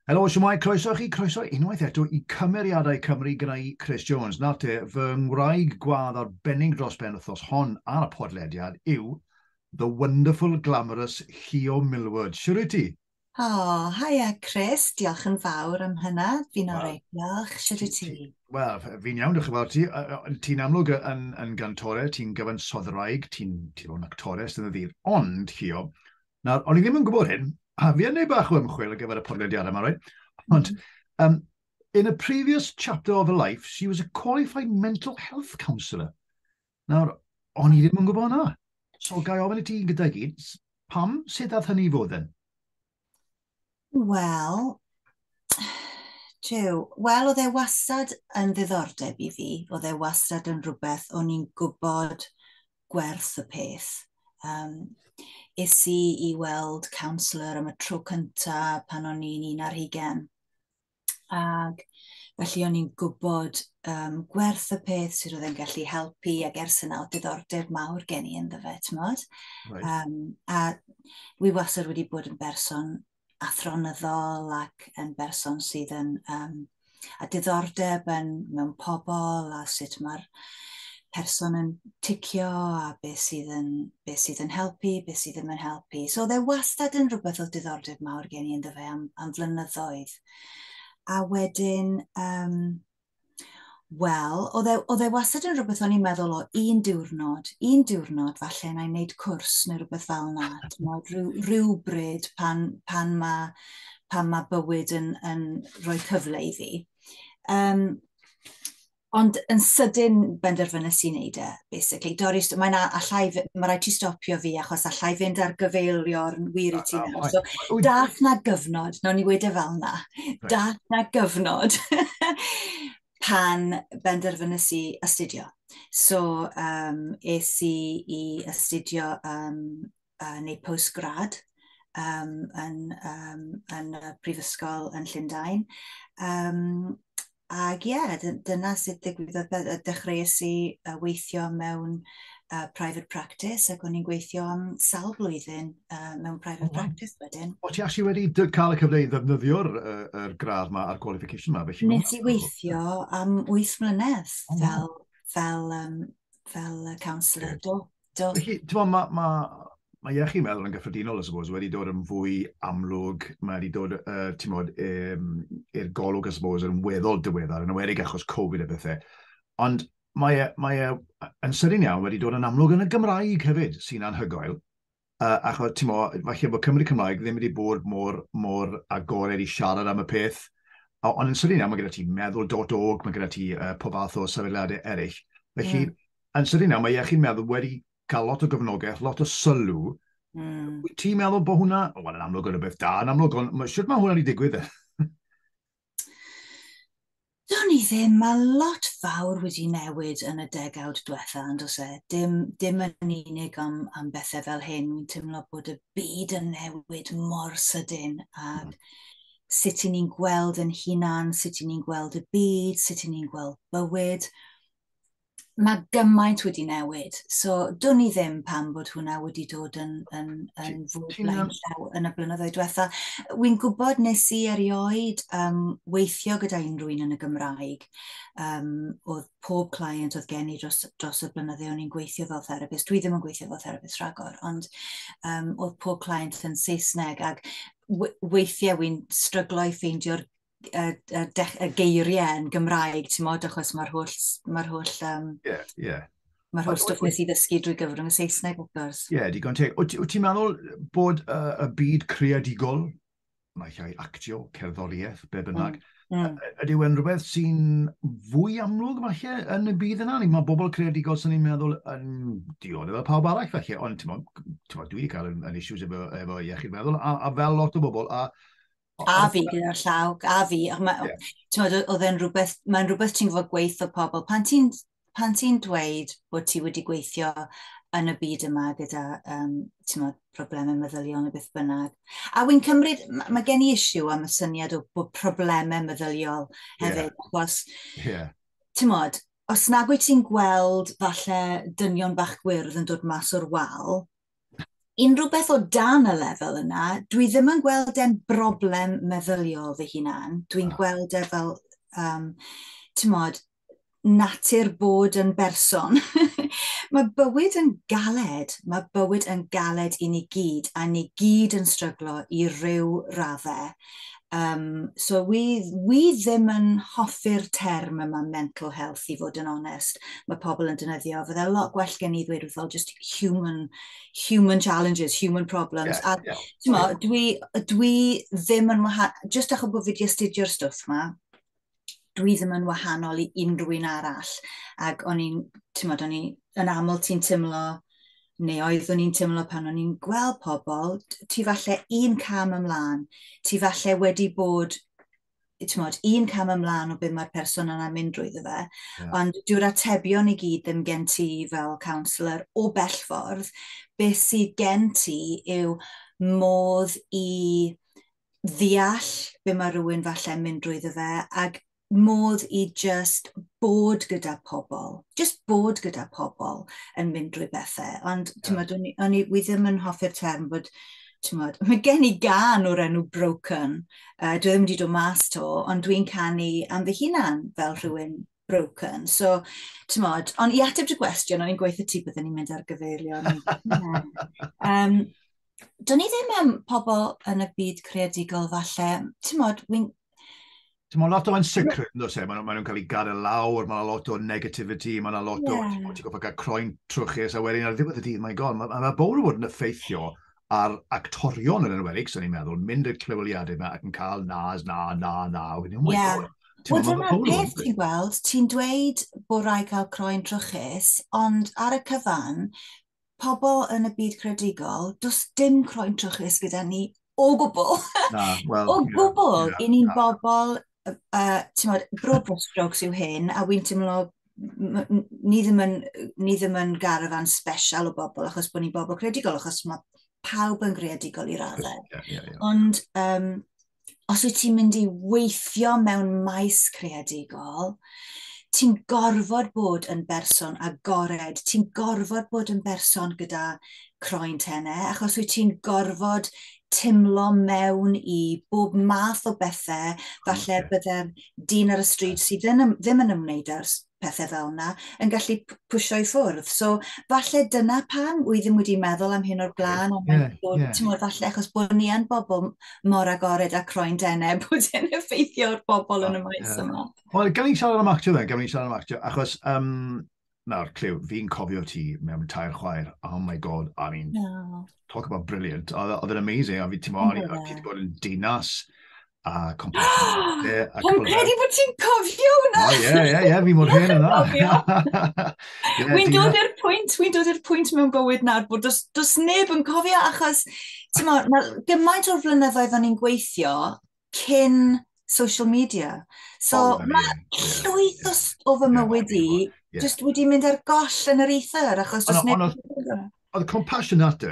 Helo, shwmae, croeso i chi, croeso unwaith eto i Cymeriadau Cymru gyda i Chris Jones. Nawr te, fy ngwraig gwadd arbennig dros ben wythnos hon ar y podlediad yw the wonderful, glamorous Llio Millward. Shwt wyt ti? O, haia Chris, diolch yn fawr am hynna, fi'n oreit, diolch, shwt wyt ti? Wel, fi'n iawn, diolch yn fawr ti. Ti'n amlwg yn, yn gantore, ti'n gyfansoddwraig, ti'n ti fod yn actores yn y ddydd. Ond, Llio, Nawr, o'n i ddim yn gwybod hyn, a fi yn ei bach o ymchwil ar gyfer y podlediad yma, right? Ond, um, in a previous chapter of her life, she was a qualified mental health counsellor. Nawr, o'n i ddim yn gwybod hwnna. So, gai ofyn i ti gyda'i gyd, pam, sut dath hynny i fod yn? Wel, Jiw, wel oedd e wastad yn ddiddordeb i fi, oedd e wastad yn rhywbeth o'n i'n gwybod gwerth y peth. Um, is i i weld counsellor am y tro cyntaf pan o'n i'n un ar hugen. Ac felly o'n i'n gwybod um, gwerth y peth sydd oedd yn gallu helpu ac ers yna oedd diddordeb mawr gen i ynddo fe, ti'n modd? Right. Um, a wi wastad wedi bod yn berson athronyddol ac yn berson sydd yn um, a diddordeb yn, mewn pobl a sut mae'r person yn ticio a beth sydd yn, beth sydd yn helpu, beth sydd ddim yn helpu. So dde wastad yn rhywbeth o diddordeb mawr gen i yn ddefe am, am flynyddoedd. A wedyn, um, wel, oedd e, oedd e wastad yn rhywbeth o'n i'n meddwl o un diwrnod, un diwrnod falle na i wneud cwrs neu rhywbeth fel yna. Rhyw, rhyw bryd pan, pan mae pan mae bywyd yn, yn rhoi cyfle i fi. Um, Ond yn sydyn benderfynais i wneud e, basically. Doris, mae na, allai, mae rhaid ti stopio fi achos allai fynd ar gyfeilio'r wir i ti nawr. So, dath na gyfnod, nawn ni wedi e fel na, dath na gyfnod pan benderfynais i astudio. So, um, es i i astudio um, uh, neu post-grad um, yn, um, yn y prifysgol yn Llundain. Um, ac ie, yeah, dyna sut ddigwyddodd dechreuais i weithio mewn uh, private practice ac o'n i'n gweithio am sawl blwyddyn uh, mewn private oh, practice wedyn. O ti actually wedi cael y cyfle i ddefnyddio'r uh, er gradd ma a'r qualification ma? Felly, Nes i weithio am 8 mlynedd oh, fel, fel, um, fel counsellor. Do, Do. Felly, ti'n meddwl, mae, ma, mae iechyd meddwl yn gyffredinol, I suppose, wedi dod yn fwy amlwg, mae wedi dod, uh, ti'n modd, um, i'r golwg, I suppose, yn weddol diweddar, yn awedig achos Covid a bethau. Ond mae e, mae e yn sydyn iawn wedi dod yn amlwg yn y Gymraeg hefyd, sy'n anhygoel. Uh, achos, ti'n modd, falle bod Cymru Cymraeg ddim wedi bod mor, mor agored i siarad am y peth, ond yn sydyn iawn, mae gyda ti meddwl.org, mae gyda ti uh, pob fath o sefydliadau eraill. Felly, mm Yn sydyn nawr, mae Iechyd Meddwl wedi cael lot o gyfnogaeth, lot o sylw. Mm. Wyt ti'n meddwl bod hwnna, o, yn amlwg yn rhywbeth da, yn amlwg, ond ma, sut mae hwnna wedi digwydd e? Do'n i ddim, mae lot fawr wedi newid yn y degawd diwetha, ond os e, dim, dim yn unig am, am bethau fel hyn, wy'n teimlo bod y byd yn newid mor sydyn, ac mm. sut i ni'n gweld yn hunan, sut i ni'n gweld y byd, sut i ni'n gweld bywyd, mae gymaint wedi newid. So, dwn i ddim pam bod hwnna wedi dod yn, yn, yn fwy blaen llaw yn y blynyddoedd diwetha. Wy'n gwybod nes i erioed um, weithio gyda unrhyw un yn y Gymraeg. Um, oedd pob client oedd gen i dros, dros y blynyddoedd o'n i'n gweithio fel therapist. Dwi ddim yn gweithio fel therapist rhagor, ond um, oedd pob client yn Saesneg. Ac weithiau wy'n stryglo i ffeindio'r y, y, y geiriau yn Gymraeg, ti'n modd, achos mae'r holl... Mae'r holl um, yeah, yeah. Mae'r holl stwff nes i ddysgu drwy gyfrwng y Saesneg, wrth gwrs. Ie, yeah, digon teg. Wyt ti'n meddwl bod uh, y byd creadigol, mae llai actio, cerddoriaeth, be bynnag, mm. mm. ydy e'n rhywbeth sy'n fwy amlwg falle yn y byd yna? Mae bobl creadigol sy'n ni'n meddwl yn diodde fel pawb arall falle, ond ti'n meddwl, dwi wedi cael yn, yn issues efo, efo iechyd meddwl, a, a fel lot o bobl, a A fi gyda'r llaw, a fi. Oedd e'n rhywbeth, mae'n rhywbeth ti'n fod gweithio pobl. Pan ti'n pan ti dweud bod ti wedi gweithio yn y byd yma gyda um, mod, problemau meddyliol neu beth bynnag. A wy'n cymryd, mae gen i isiw am y syniad o bod problemau meddyliol hefyd, yeah. achos, yeah. mod, os nag wyt ti'n gweld falle dynion bach gwyrdd yn dod mas o'r wal, unrhyw beth o dan y lefel yna, dwi ddim yn gweld e'n broblem meddyliol fy hunan. Dwi'n gweld e fel, um, ti'n modd, natur bod yn berson. mae bywyd yn galed, mae bywyd yn galed i ni gyd, a ni gyd yn stryglo i ryw raddau. Um, so wi, wi ddim yn hoffi'r term yma mental health i fod yn onest. Mae pobl yn dynyddio, fydde lot gwell gen i ddweud wrthol just human, human challenges, human problems. Yeah, a yeah, yeah. Mo, dwi, dwi ddim yn wahanol, just achos bod fi wedi astudio'r stwff yma, dwi ddim yn wahanol i unrhyw un arall. Ac o'n i'n, ti'n modd, o'n i'n, yn aml ti'n teimlo, neu oeddwn i'n teimlo pan o'n i'n gweld pobl, ti falle un cam ymlaen, ti falle wedi bod ti'n modd, un cam ymlaen o beth mae'r person yna'n mynd drwy fe, yeah. ond dyw'r atebion i gyd ddim gen ti fel counsellor o bell ffordd, beth sydd gen ti yw modd i ddeall be mae rhywun falle'n mynd drwyddo fe, ac modd i just bod gyda pobl, just bod gyda pobl yn mynd drwy bethau. Ond, ti'n yeah. o'n, o'n i, wi ddim yn hoffi'r term bod, ti'n modd, mae gen i gan o'r enw broken, uh, dwi ddim wedi dod mas to, ond dwi'n canu am fy hunan fel hmm. rhywun broken. So, ti'n modd, ond i ateb dy gwestiwn, o'n i'n gweithio ti byddwn ni'n mynd ar gyfeirion. um, Do'n i ddim am pobl yn y byd creadigol falle. Ti'n modd, wy'n... Ti'n modd lot o ansicrwydd, no se? Maen nhw'n cael ei gael y lawr, mae lot o negativity, mae yna lot o... Ti'n ti'n goffa cael croen trwchus, a wedyn ar ddiwedd y dydd, mae'n god, mae yna bobl yn bod yn effeithio ar actorion yn enwedig, sy'n ni'n meddwl, mynd i'r clywliadau yma ac yn cael nas, na, na, na, a wedyn, oh my yeah. god. Wel, dyna'r peth ti'n gweld, ti'n dweud bod rhaid cael croen trwchus, ond ar y cyfan, pobl yn y byd credigol, does dim croen trwchus gyda ni o gwbl. Na, well, o gwbl, yeah, yeah, i ni'n bobl, uh, ti'n modd, bro strokes yw hyn, a wy'n teimlo ni ddim yn, ni ddim yn garafan special o bobl achos bod ni'n bobl credigol, achos mae pawb yn greadigol i raddau. Yeah, yeah, yeah. Ond um, os wyt ti'n mynd i weithio mewn maes creadigol, ti'n gorfod bod yn berson agored, ti'n gorfod bod yn berson gyda croen tenne, achos wyt ti'n gorfod timlo mewn i bob math o bethau, falle bydde'r dyn ar y stryd sydd ddim yn ymwneud â'r pethau fel yna, yn gallu pwysio i ffwrdd. So, falle dyna pam, wy ddim wedi meddwl am hyn o'r blaen, ond yeah, bod, yeah. ti'n meddwl, falle achos bod ni yn bobl mor agored a croen denau, bod yn effeithio'r bobl yn y ah, maes yeah. yma. Wel, gan i'n siarad am actio fe, gan i'n siarad am actio, achos um, nawr, Clew, fi'n cofio ti mewn tair chwaer. Oh my god, I mean, no. talk about brilliant. Oedd e'n amazing, a fi ti'n mo, o'n i wedi bod yn dinas a Compassion. Hwn credu bod ti'n cofio hwnna! O, ie, ie, ie, fi mor hen yna. Wy'n dod i'r pwynt, wy'n dod i'r pwynt mewn bywyd nawr bod dos, dos neb yn cofio achos, ti'n mo, mae gymaint o'r flynyddoedd o'n i'n gweithio cyn social media. So oh, mae yeah, llwyth yeah, o fy mywyd i yeah. just wedi mynd ar goll yn yr ether achos just neb... Oedd compassion at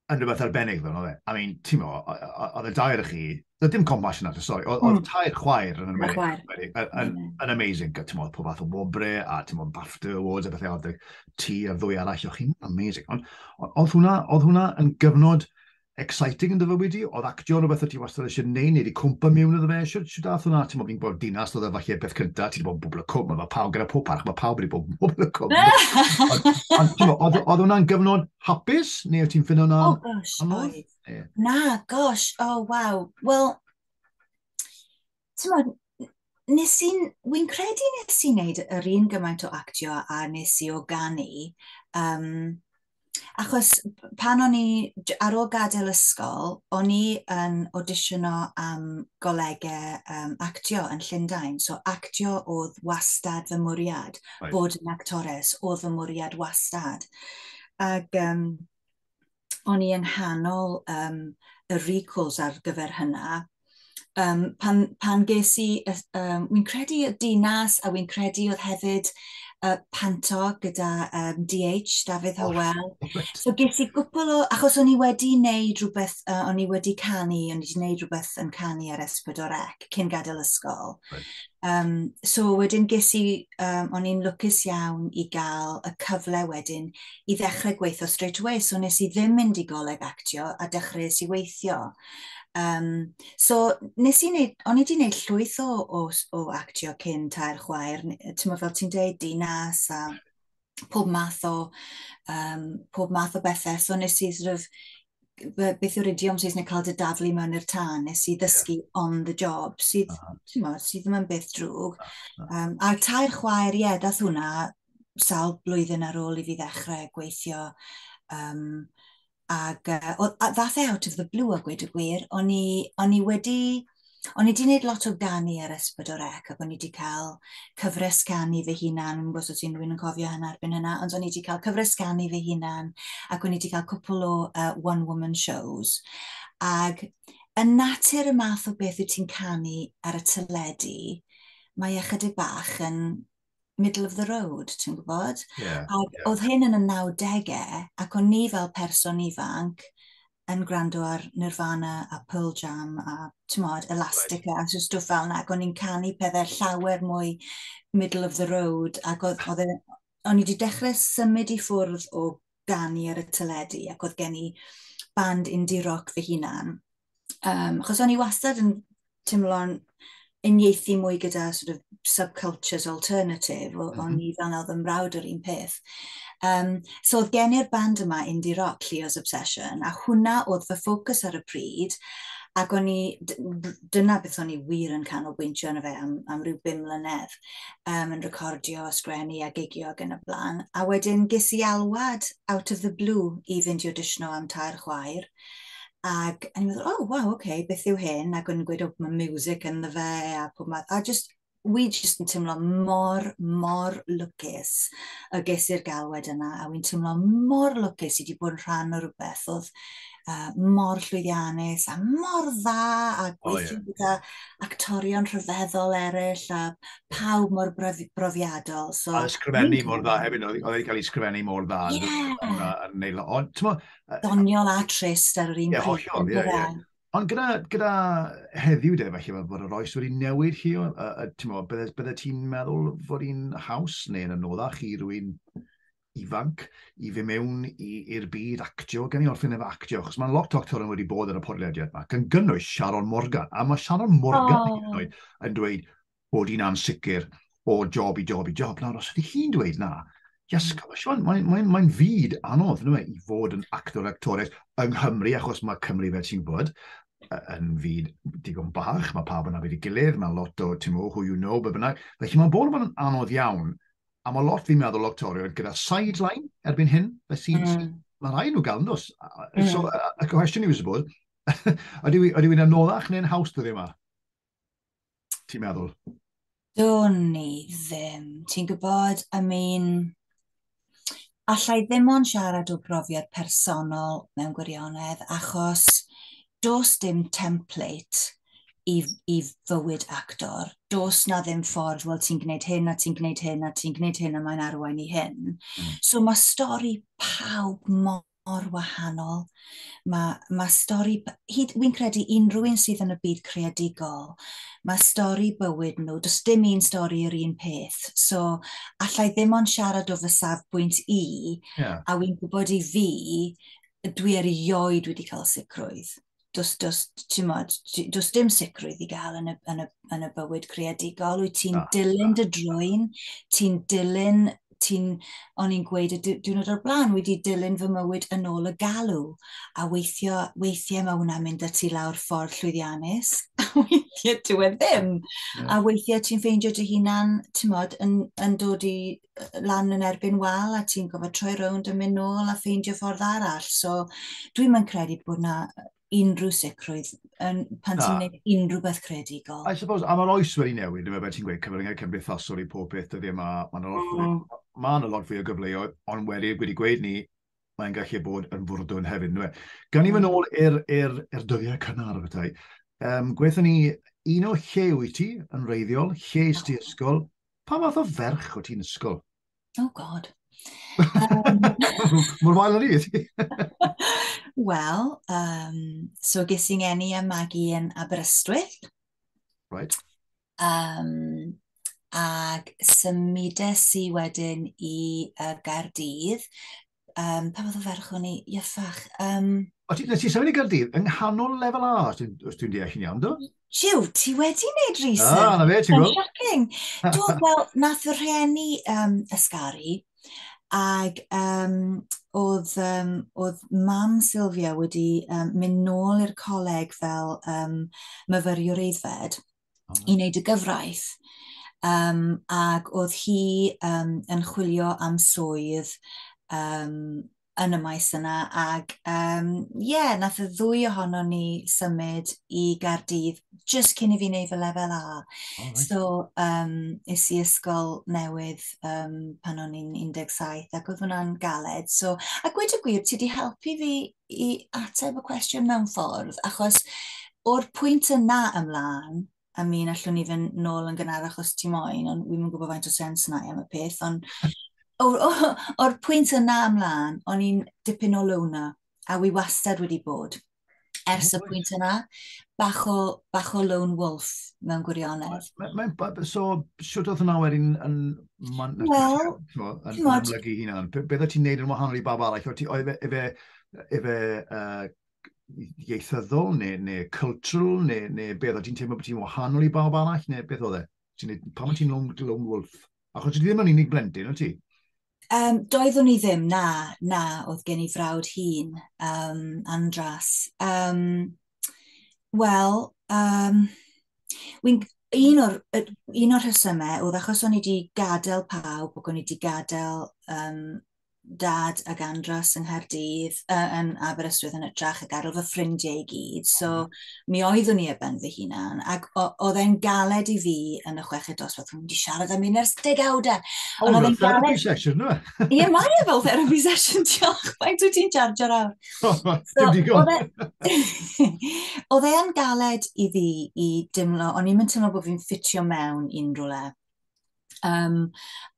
yn rhywbeth arbennig ddo, oedd e? I mean, ti'n mo, oedd y dair chi, oedd dim compassion at y stori, oedd mm. tair chwaer yn ymwneud, yn, yn amazing, ti'n mo, pob fath o wobre, a ti'n mo, BAFTA Awards, a bethau, oedd y ti a'r ddwy arall, o'ch chi'n amazing. Ond oedd hwnna, oedd hwnna yn gyfnod exciting yn dy fywyd i? Oedd actio yn rhywbeth o ti wastad eisiau neud, neu wedi cwmpa mewn iddo fe? Siwr, siwr dath hwnna, ti'n mo, fi'n bod dinas, oedd e falle beth cyntaf, ti'n bod yn bobl y cwm, mae pawb gyda pob parch, mae pawb wedi bod yn bobl y cwm. Ond oedd hwnna'n gyfnod hapus, neu wyt ti'n ffynno na? Oh gosh, oedd. Na, gosh, oh waw. Wel, ti'n modd, nes i'n, wy'n credu nes i'n neud yr un gymaint o actio a nes i o ganu. Um, achos pan o'n i, ar ôl gadael ysgol, o'n i yn auditiono am golegau um, actio yn Llundain. So actio oedd wastad fy mwriad, right. bod yn actores oedd fy mwriad wastad. Ac um, o'n i yng nghanol um, y recalls ar gyfer hynna, um, pan, pan ges i, um, wy'n credu y dinas a wy'n credu oedd hefyd uh, panto gyda um, DH, Dafydd oh, Howell. Oh, so ges i gwpl o, achos o'n i wedi wneud rhywbeth, uh, o'n i wedi canu, o'n i wedi wneud rhywbeth yn canu ar Esbyd o'r Ec cyn gadael ysgol. Right. Um, so wedyn ges i, um, o'n i'n lwcus iawn i gael y cyfle wedyn i ddechrau gweithio straight away, so nes i ddim mynd i goleg actio a dechrau i weithio. Um, so nes i wneud, o'n i wedi gwneud llwyth o, o, o actio cyn tair chwaer, ti'n fel ti'n deud, dinas a pob math o, um, pob math o bethau. So nes i sort of, beth yw'r idiom sy'n cael dy daflu mewn i'r tân, nes i ddysgu yeah. on the job, sydd, uh -huh. mo, sydd ddim yn beth drwg. Uh -huh. um, a tair chwaer, ie, yeah, dath hwnna sawl blwyddyn ar ôl i fi ddechrau gweithio um, Ac uh, o, a ddath e out of the blue a gweud y gwir, o'n i, o'n i wedi... O'n i wedi gwneud lot o ganu ar Esbydor Ec ac o'n i wedi cael cyfres ganu fy hunan, yn gwrs os unrhyw'n yn cofio hynna erbyn hynna, ond o'n i wedi cael cyfres ganu fy hunan ac o'n i wedi cael cwpl o uh, one-woman shows. Ac yn natur y math o beth wyt ti'n canu ar y teledu, mae ychydig bach yn middle of the road, ti'n gwybod? Yeah, a yeah. oedd hyn yn y 90au, ac o'n ni fel person ifanc yn gwrando ar Nirvana a Pearl Jam a, ti'n modd, Elastica right. a stwff fel yna, ac o'n i'n canu pethau llawer mwy middle of the road, ac oedd, oedd e, o'n i wedi dechrau symud i ffwrdd o ganu ar y teledu, ac oedd gen i band indie rock fy hunan, Um, achos o'n i wastad yn teimlo'n unieithu mwy gyda sort of subcultures alternative, mm -hmm. o'n mhm. i fel nawr fy mrawd yr un peth. Um, so oedd gen i'r band yma, Indie Rock, Leo's Obsession, a hwnna oedd fy ffocws ar y pryd, ac o'n i, dyna beth o'n i wir yn canolbwyntio yn y fe am, am rhyw bum mlynedd, um, yn recordio, sgrennu a gigio ac yn y blaen. A wedyn ges i alwad out of the blue i fynd i auditiono am tair chwaer, Ac o'n i'n meddwl, oh wow, ok, beth yw hyn? Ac o'n i'n gweud, oh, mae music ynddo fe a pob math. A just, wi just yn teimlo mor, mor lwcus y ges i'r galwed yna. A wi'n teimlo mor lwcus i wedi bod yn rhan o rhywbeth oedd uh, mor llwyddiannus a mor dda a gweithio oh, gyda actorion rhyfeddol eraill a pawb mor brofiadol. So, a ysgrifennu mor dda hefyd, oedd wedi cael ei ysgrifennu mor dda. Yeah. Yn, yn, yn, yn, yn, Doniol a trist ar yr un yeah, pryd. Hollol, yeah, yeah. Ond gyda, gyda heddiw de, felly mae bod yr oes wedi newid chi, uh, uh, ti'n meddwl, bydde, bydde ti'n meddwl fod hi'n haws neu'n anoddach i rwy'n ifanc i fe mewn i'r byd actio, gen i orffen efo actio, achos mae'n lot o actor wedi bod yn y podlediad yma, gan gynnwys Sharon Morgan, a mae Sharon Morgan oh. yn dweud, bod hi'n ansicr o job i job i job. Nawr, os ydy hi'n dweud na, Yes, gosh, mae'n mae, mae, mae fyd anodd nhw, i fod yn actor actores yng Nghymru, achos mae Cymru fel ti'n bod, yn fyd digon bach, mae pawb yna wedi gilydd, mae lot o, ti'n mwyn, who you know, be bynnag. Felly mae'n bod yn anodd iawn, a mae lot fi'n meddwl actorion gyda sideline erbyn hyn, felly mm. mae rhaid nhw gael yn dos. Mm. So, y cwestiwn i fi, suppose, ydy wy'n anoddach neu'n haws dyddi yma? Ti'n meddwl? Do'n ni ddim. Ti'n gwybod, I mean, allai ddim ond siarad o brofiad personol mewn gwirionedd, achos dos dim template i, i fywyd actor. Dos na ddim ffordd, wel ti'n gwneud hyn a ti'n gwneud hyn a ti'n gwneud hyn a mae'n arwain i hyn. Mm. So mae stori pawb mor mor wahanol. Mae, mae stori, hyd, wy'n credu unrhyw un sydd yn y byd creadigol, mae stori bywyd nhw, does dim un stori yr un peth. So, allai ddim ond siarad o fy safbwynt i, yeah. a wy'n gwybod i fi, dwi erioed wedi cael sicrwydd. does, does, mod, does dim sicrwydd i gael yn y, yn y, yn y bywyd creadigol. Wyt ti'n dilyn dy drwy'n, ti'n dilyn, ti'n, o'n i'n gweud y diwrnod o'r blaen, wedi dilyn fy mywyd yn ôl y galw. A weithio, weithiau mae hwnna'n mynd y ti lawr ffordd llwyddiannus, a weithiau dwi e ddim. A weithiau ti'n ffeindio dy hunan, ti'n mod, yn, yn dod i lan yn erbyn wal a ti'n gofod troi rownd a mynd nôl a ffeindio ffordd arall. So, dwi'n mynd credu bod na unrhyw sicrwydd yn, pan ti'n gwneud unrhyw beth credigol. I suppose, a mae'r oes wedi newid, dyma beth ti'n gweud, cyfryngau cymdeithasol i pob peth dyddiau yma, mae'n yna lot, mm. ma yna lot fwy o gyfleoedd, ond wedi, wedi gweud ni, mae'n gallu bod yn fwrdwn hefyd. Dwi. Gan ni fy mm. nôl i'r er, er dyddiau cynnar, bethau. Um, Gweithio ni un o lle wyt ti yn reiddiol, lle ysdi ysgol, Pa fath o ferch o ti'n ysgol? Oh god. Um, Mor wael ar i ti? Wel, um, so ges i'n enni a magu yn Aberystwyth. Right. Um, ag symudes i wedyn i uh, Gaerdydd um, pa fath o ferch o'n i, iafach. Um, o ti, nes i symud i Gyrdydd, yng nghanol lefel A, os dwi'n dwi deall yn iawn, do? Jiw, ti wedi wneud ah, research. Ah, na fe, ti'n gwybod. Shocking. Do, wel, nath fy rhieni um, ysgaru, ac um, oedd, um, oedd mam Sylvia wedi um, mynd nôl i'r coleg fel um, myfyriwr eiddfed, i wneud y gyfraith. Um, ac oedd hi um, yn chwilio am swydd um, yn y maes yna ac um, yeah, nath y ddwy ohono ni symud i Gardydd just cyn i fi wneud fy lefel A. Oh, right. So um, is i ysgol newydd um, pan o'n i'n 17 ac oedd hwnna'n galed. So, a gweud y gwir, ti wedi helpu fi i ateb y cwestiwn mewn ffordd, achos o'r pwynt yna ymlaen, a mi yn allwn ni fynd nôl yn gynnar achos ti moyn, ond wi'n mynd gwybod faint o sens yna am y peth, ond o'r pwynt yna ymlaen, o'n i'n dipyn o lwna, a wi wastad wedi bod ers y pwynt yna, bach o, bach o lone wolf mewn gwirionedd. Mae'n, so, siwt oedd hwnna wedyn yn Mae'n well, yn amlygu hunan. Beth o ti'n neud yn wahanol i bab arall? Oedd e, e fe, e fe uh, ieithyddol neu, neu cultural neu, neu beth o ti'n teimlo bod ti'n wahanol i bawb arall neu beth oedd e? Ti'n neud, pam o ti'n lone, lone wolf? Achos ti ddim yn unig blentyn, o ti? Um, doeddwn i ddim, na, na, oedd gen i frawd hun, um, Andras. Um, Wel, um, un o'r, un o'r rhesymau oedd achos o'n i wedi gadael pawb, o'n i wedi gadael um, dad ag Andros yng Nghaerdydd, uh, yn Aberystwyth yn ytrach ag arol fy ffrindiau i gyd. So, mi oeddwn i ar ben fy hunan, ac oedd e'n galed i fi yn y chweched dosbarth, o'n wedi siarad am un ers degawdau. O, fel therapy galed... session, no? Ie, mae e fel therapy session, diolch, faint wyt ti'n charger awr? Dim digon. Oedd e'n galed i fi i dimlo, o'n i'n mynd teimlo bod fi'n ffitio mewn i'n rhywle. Um,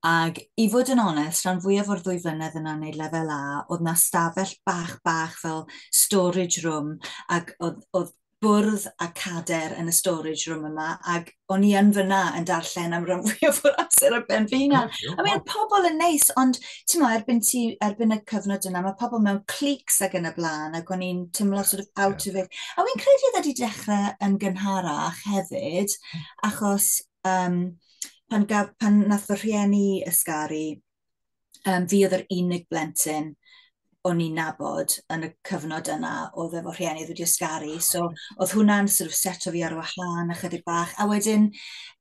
ac i fod yn onest, rhan fwyaf o'r ddwy flynedd yna wneud lefel A, oedd na stafell bach bach fel storage room, ac oedd, oedd bwrdd a cader yn y storage room yma, ac o'n i yn fyna yn darllen am rhan fwyaf o'r amser ar ben fy hunan. Oh, I mean, pobl yn neis, ond ti'n mo, erbyn, ti, erbyn y cyfnod yna, mae pobl mewn clics ac yn y blaen, ac o'n i'n tymlo yeah, sort of out yeah. of it. A wy'n credu oedd wedi dechrau yn gynharach hefyd, hmm. achos um, pan, gaf, pan nath fy rhieni ysgaru, Um, fi oedd yr unig blentyn o'n i'n nabod yn y cyfnod yna oedd efo rhieni wedi ysgaru. So, oedd hwnna'n sort of seto fi ar wahân ychydig bach. A wedyn,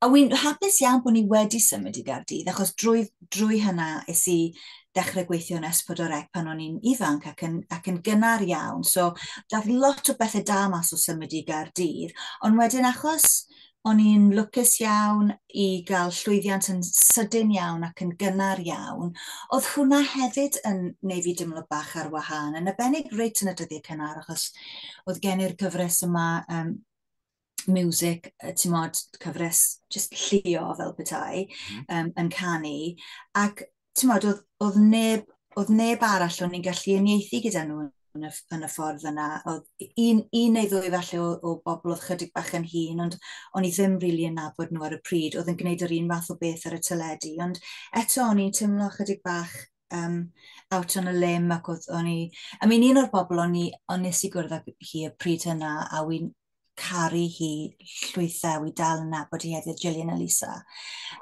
a wy'n hapus iawn bod ni wedi symud i Gardydd, achos drwy, drwy hynna es i dechrau gweithio yn Espodorec pan o'n i'n ifanc ac yn, ac yn gynnar iawn. So, dath lot o bethau da mas o symud i Gardydd. Ond wedyn, achos O'n i'n lwcus iawn i gael llwyddiant yn sydyn iawn ac yn gynnar iawn. Oedd hwnna hefyd yn neu fi dimlo bach ar wahân, yn abennig reit yn y dyddiau cynnar, achos oedd gen i'r cyfres yma um, music, ti'n modd, cyfres just llio fel petai, um, yn canu, ac ti'n modd, oedd, oedd neb, oedd neb arall o'n i'n gallu unieithu gyda nhw yn y, yn y ffordd yna. Oedd un, un neu ddwy falle o, o bobl oedd chydig bach yn hun, ond o'n i ddim rili really yn nabod nhw ar y pryd, oedd yn gwneud yr un fath o beth ar y teledu. Ond eto o'n i'n teimlo chydig bach um, out on a limb ac oedd o'n i... I mean, un o'r bobl o'n i, o'n nes i gwrdd ag hi y pryd hynna, a wy'n caru hi llwythau i dal yn nabod hi hefyd, Gillian Elisa.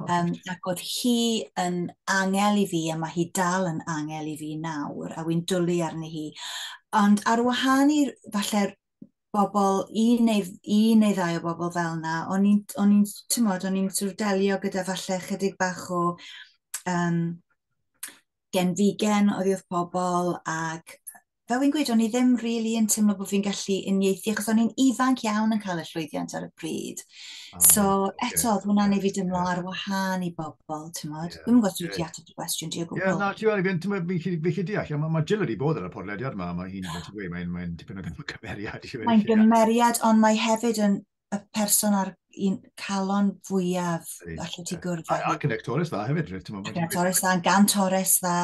Um, ac oedd hi yn angel i fi, a mae hi dal yn angel i fi nawr, a wy'n dwlu arni hi. Ond ar wahân i falle bobl, un neu, un neu ddau o bobl fel yna, o'n i'n, o'n i'n, ti'n modd, o'n i'n sort of delio gyda falle chydig bach o um, gen figen oedd pobl ac fel fi'n gweud, o'n i ddim really yn teimlo bod fi'n gallu uniaethu, achos o'n i'n ifanc iawn yn cael y llwyddiant ar y bryd. Oh, so, okay. eto, oedd hwnna'n yeah, ei fi dymlo yeah. ar wahân i bobl, ti'n modd? Yeah. Dwi'n gwybod sydd wedi y gwestiwn ti o gwbl. Ie, na, ti'n modd, fi'n tymor, fi'n chi deall, mae ma Jill wedi bod ar y podlediad yma, mae hi'n, ti'n gweud, mae'n mae dipyn o gymeriad. Mae'n gymeriad, ond mae hefyd yn y person ar un calon fwyaf allu ti gwrdd â. Ac yn actores dda hefyd, rwy'n meddwl. Ac actores dda, gan Torres dda,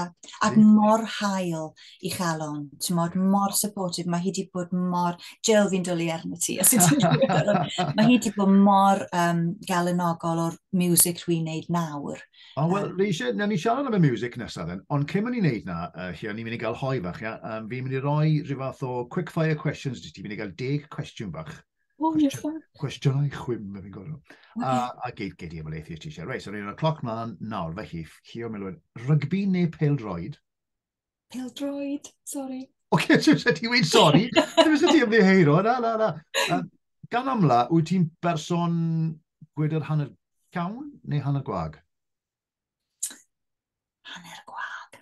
ac mor hael i chalon, ti'n modd, mor supportive, mae hi wedi bod mor, Jill fi'n dwlu arno ti, os ydyn mae hi wedi bod mor um, galenogol o'r music rwy'n neud nawr. O, oh, wel, um, rwy'n eisiau, na ni siarad am y music nesaf, then, ond cyn mynd i wneud na, uh, chi, ni'n mynd i gael hoi fach, ia, um, fi'n mynd i roi rhyw fath o quick fire questions, ti'n mynd i gael deg cwestiwn fach, Oh, yes, sir. Cwestiynau chwim, fe fi'n gwybod. A, a gyd, gyd i ymwneud i'r t-shirt. Reit, so ni'n y cloc mlaen nawr, fe chi, chi o milwyr. Rygbi neu peldroed? Peldroed, sorry. O, okay, so sut ti'n weid sori? Dwi'n sut ti'n ddiheiro, na, na, na. Um, gan amla, wyt ti'n berson gwyd yr hanner cawn neu hanner gwag? hanner gwag.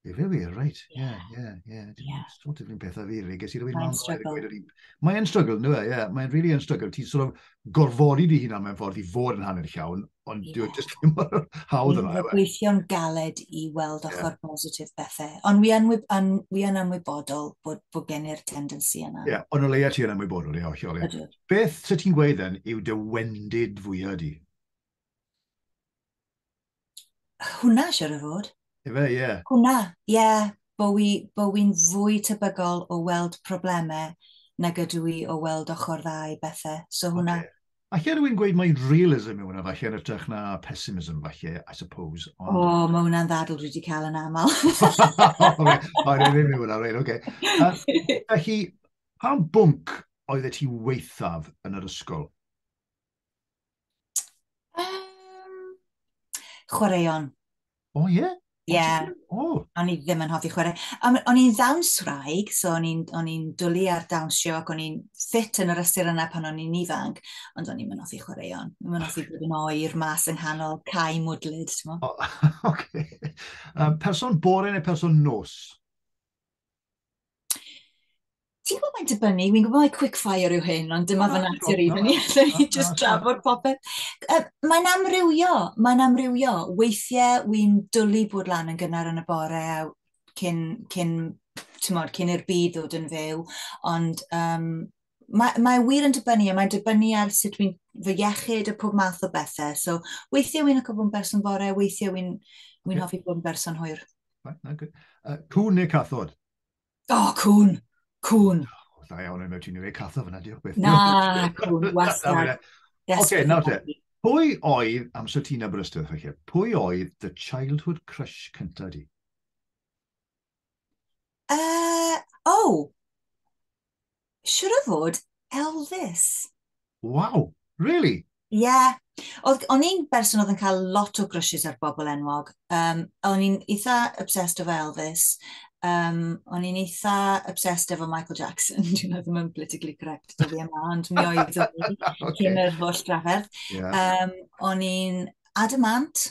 Efe wir, reit. Ie, ie, ie. Dwi'n sort of un peth a fi, fi. Ges i rwy'n man oer gweud yr un. Mae'n struggle, nhw e, ie. Mae'n really yn struggle. Ti'n sort of gorfodi di hunan mewn ffordd i fod yn hanner llawn, ond yeah. dwi'n just ddim mor hawdd yna. Dwi'n gweithio'n galed i weld ochr yeah. positif bethau. Ond wi yn, an, wi yn anwybodol bod, bod gen i'r tendency yna. Ie, yeah, ond o leia ti yn anwybodol, ie, hollol. Beth sy'n ti'n gweud then yw dy wendid fwyaf di? Hwna, siwr o fod. Efe, ie. Yeah. Hwna, ie. Yeah. Bo wi'n bo wi fwy tebygol o weld problemau na gydw i o weld ochr dda i bethau. So hwnna. Okay. Alla rwy'n gweud mae realism yw hwnna falle yn ytrach na pessimism falle, I suppose. Ond... O, oh, mae hwnna'n ddadl dwi wedi cael yn aml. Mae'n ei ddim yw hwnna, rhaid, oce. Felly, pa bwnc oedd e ti weithaf yn yr ysgol? Um, chwaraeon. O, oh, ie? Yeah? Ie. Yeah. Oh. O'n i ddim yn hoffi chwarae. O'n i'n ddawns rhaeg, so o'n i'n dwlu ar dawnsio ac o'n i'n ffit yn yr ystyr yna pan o'n i'n ifanc, ond o'n i'n mynd hoffi chwaraeon. O'n i'n hoffi bod yn oer mas yng nghanol cae mwdlyd, ti'n mo? Oh, okay. um, person bore neu person nos? Ti'n gwybod mae'n dibynnu, fi'n gwybod mae quick fire yw hyn, ond dyma fy natur i, dyn ni just drafod popeth. Mae'n amrywio, mae'n amrywio. Weithiau wy'n dwlu bod lan yn gynnar yn y bore a cyn, cyn, mod, cyn i'r byd ddod yn fyw, ond um, mae, mae wir yn dibynnu, a mae'n dibynnu ar sut fi'n fy iechyd a pob math o bethau. So, weithiau wy'n licio bod yn berson fore, weithiau wy'n wy yeah. hoffi bod yn berson hwyr. Right, no, good. Uh, cwn neu cathod? O, oh, cwn. Cwn. Oh, da iawn, yn ti'n ei cathod fyna, diolch beth. Na, cwn, wastad. Oce, nawr te. Pwy oedd, amser ti'n Aberystwyth, felly, pwy oedd the childhood crush cyntaf di? Uh, o! Oh. Siwr o fod Elvis. Wow, really? Ie. Yeah. O'n i'n berson oedd yn cael lot o grwsys ar bobl enwog. Um, o'n i'n eitha obsessed efo Elvis. Um, o'n i'n eitha obsessed efo Michael Jackson. Dwi'n ddim yn politically correct dyddi yma, ond mi oedd o'n i'n okay. yr holl drafferth. Yeah. Um, o'n i'n adamant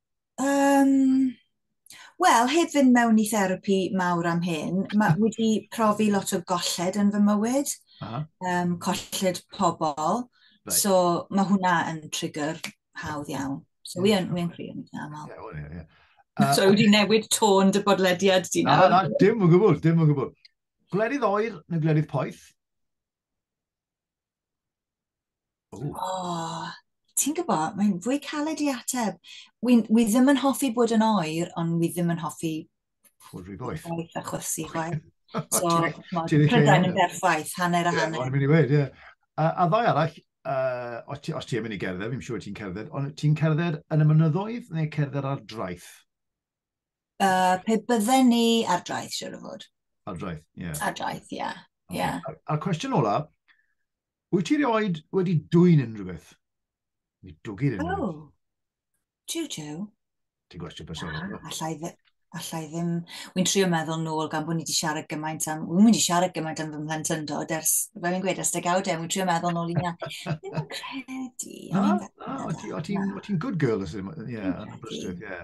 Um, Wel, heb fynd mewn i therapi mawr am hyn, mae wedi profi lot o golled yn fy mywyd, uh -huh. um, colled pobl, right. so mae hwnna yn trigger hawdd iawn. So yeah. wi yn crio yn eitha aml. Yeah, well, yeah, yeah. Uh, so wedi newid tôn dy bodlediad di nawr? Na, na, dim o gwbl, dim o gwbl. Gwledydd oer neu gwledydd poeth? Ooh. Oh, ti'n gwybod, mae'n fwy caled i ateb. Wi, wi ddim yn hoffi bod yn oer, ond wi ddim yn hoffi... Bod rhy boeth. Boeth a chwysu, chwaith. So, Prydain yn berffaith, hanner a hanner. Ie, o'n i'n mynd i ie. A, a ddau arall, uh, os ti'n ti mynd i gerdded, fi'n siŵr ti'n cerdded, ond ti'n cerdded yn y mynyddoedd neu cerdded ar draeth? Uh, pe bydden ni ar draeth, siwr o fod. Ar draeth, ie. Yeah. Ar draeth, ie. Yeah. Okay. Yeah. A'r, ar cwestiwn ola, wyt ti rioed wedi dwy'n unrhyw beth? Ni dwgir unrhyw beth. Oh, tiw, tiw. Ti'n gwestiwn personol. Ah, allai, dde, allai ddim... Wy'n trio meddwl nôl gan bod ni wedi siarad gymaint am... Wy'n wedi siarad gymaint am fy mhlentyndod ers... Fel yn gweud, ers degawdau. Wy'n trio meddwl nôl i na. Ddim yn credu. Na, na, o ti'n good girl, ie, yn y brystwyth, ie.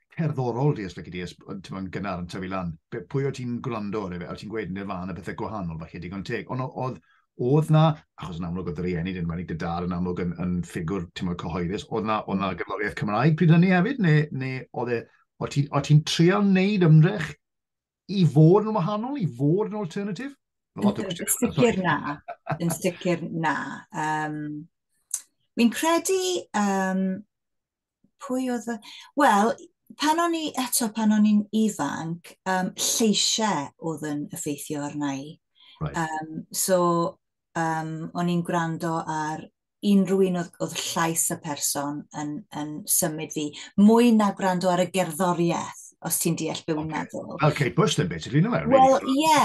cerddorol di os lygu di, ti'n mwyn gynnar yn tyfu lan. Pwy o ti'n gwrando ar efe, o ti'n gweud nirvana bethau gwahanol, falle digon teg. Ond oedd, oedd na, achos yn amlwg oedd yr rieni, dyn wedi dy dad yn amlwg yn, yn ffigwr, ti'n mwyn cyhoeddus, oedd na, oedd na gyfloriaeth Cymraeg pryd hynny hefyd, neu, neu oedd e, o ti'n ti treol wneud ymdrech i fod yn wahanol, i fod yn alternatif? Yn sicr na, yn sicr na. Um, Mi'n credu um, pwy oedd y... Wel, pan o'n i, eto pan o'n i'n ifanc, um, lleisiau oedd yn effeithio arna i. Right. Um, so, um, o'n i'n gwrando ar unrhyw un oedd, oedd llais y person yn, yn symud fi, mwy na gwrando ar y gerddoriaeth os ti'n deall beth okay. meddwl. Fel Kate Bush then, basically, no? Wel, ie,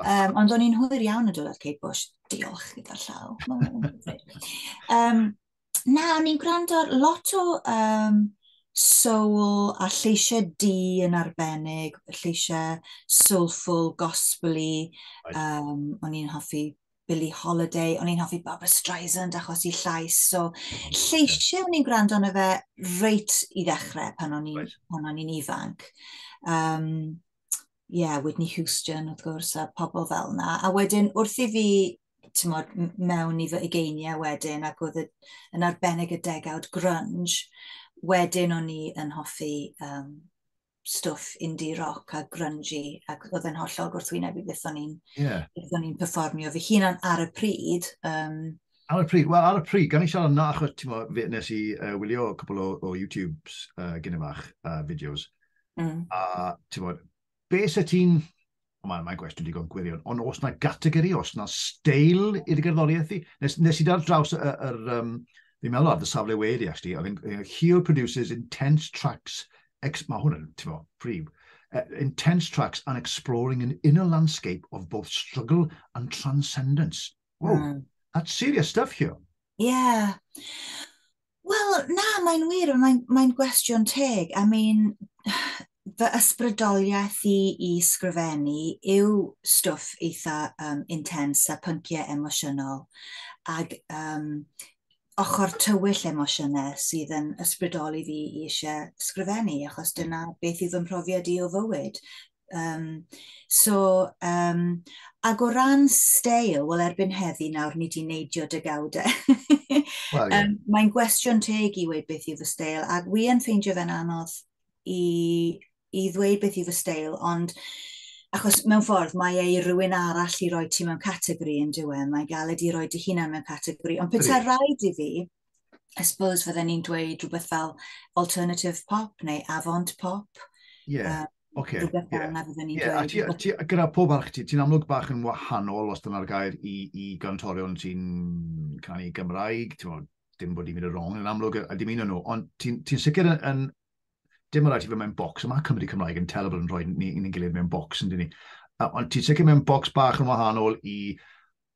um, ond o'n i'n hwyr iawn yn dod ar Kate Bush. Diolch gyda'r llaw. um, na, o'n i'n gwrando ar lot o um, soul a lleisiau di yn arbennig, lleisiau soulful, gospely. Right. Um, o'n i'n hoffi Billie Holiday, o'n i'n hoffi Barbara Streisand achos i llais. So, lleisiau o'n i'n gwrando arno fe reit i ddechrau pan o'n i'n right. ifanc. Um, ie, yeah, Whitney Houston wrth gwrs, a pobl fel yna. A wedyn, wrth i fi tymod, mewn i fy ugeiniau wedyn, ac oedd yn arbennig y degawd grunge, wedyn o'n i yn hoffi um, stwff indie rock a grungy, ac oedd yn hollol gwrthwyneb i beth o'n i'n yeah. performio fy hunan ar y pryd. Um, Ar y pryd, wel, ar y pryd, gan i siarad yna, achos ti'n mo, nes i uh, wylio cwbl o, o YouTube's uh, gyn ymach uh, videos, Mm. A, ti'n bod, be sy'n ti'n... Mae'n mae gwestiwn digon gwirion, ond os na gategori, os na steil i'r gerddoriaeth i, nes, nes i dar draws yr, yr um, fi'n meddwl ar dy safle wedi, actually, oedd yn Hugh produces intense tracks, ex, mae hwn yn, ti'n bod, prif, uh, intense tracks and exploring an inner landscape of both struggle and transcendence. Wow, mm. that's serious stuff here. Yeah. Wel, na, mae'n wir, mae'n mae gwestiwn teg. I mean, fy ysbrydoliaeth i i sgrifennu yw stwff eitha um, intens a pynciau emosiynol ac um, ochr tywyll emosiynau sydd yn ysbrydoli fi i eisiau sgrifennu, achos dyna beth yw fy mhrofiad i o fywyd. Um, so, um, ac o ran steil, wel erbyn heddi nawr ni di neidio dygawdau. well, yeah. um, Mae'n gwestiwn teg i weid beth yw fy steil, ac wi yn ffeindio fe'n anodd i, i ddweud beth yw fy steil, ond achos mewn ffordd mae ei rhywun arall i roi ti mewn categori yn diwy, e, mae galed i roi dy hunan mewn categori, ond pethau rhaid i fi, I suppose fydden ni'n dweud rhywbeth fel alternative pop neu avant pop. Ie, yeah. um, okay. Rhywbeth fel yna fydden ni'n yeah. dweud. A ti, a ti, gyda pob arch, ti, ti'n amlwg bach yn wahanol os dyna'r gair i, i gantorion sy'n canu Gymraeg, ti'n meddwl, dim bod i'n mynd y wrong yn amlwg a dim un o'n nhw, ond ti'n ti sicr yn, yn dim rhaid i fe mewn bocs, mae Cymru Cymraeg yn telebl yn rhoi ni'n ni gilydd mewn bocs, yn dyn ni. Ond ti'n sicr mewn bocs bach yn wahanol i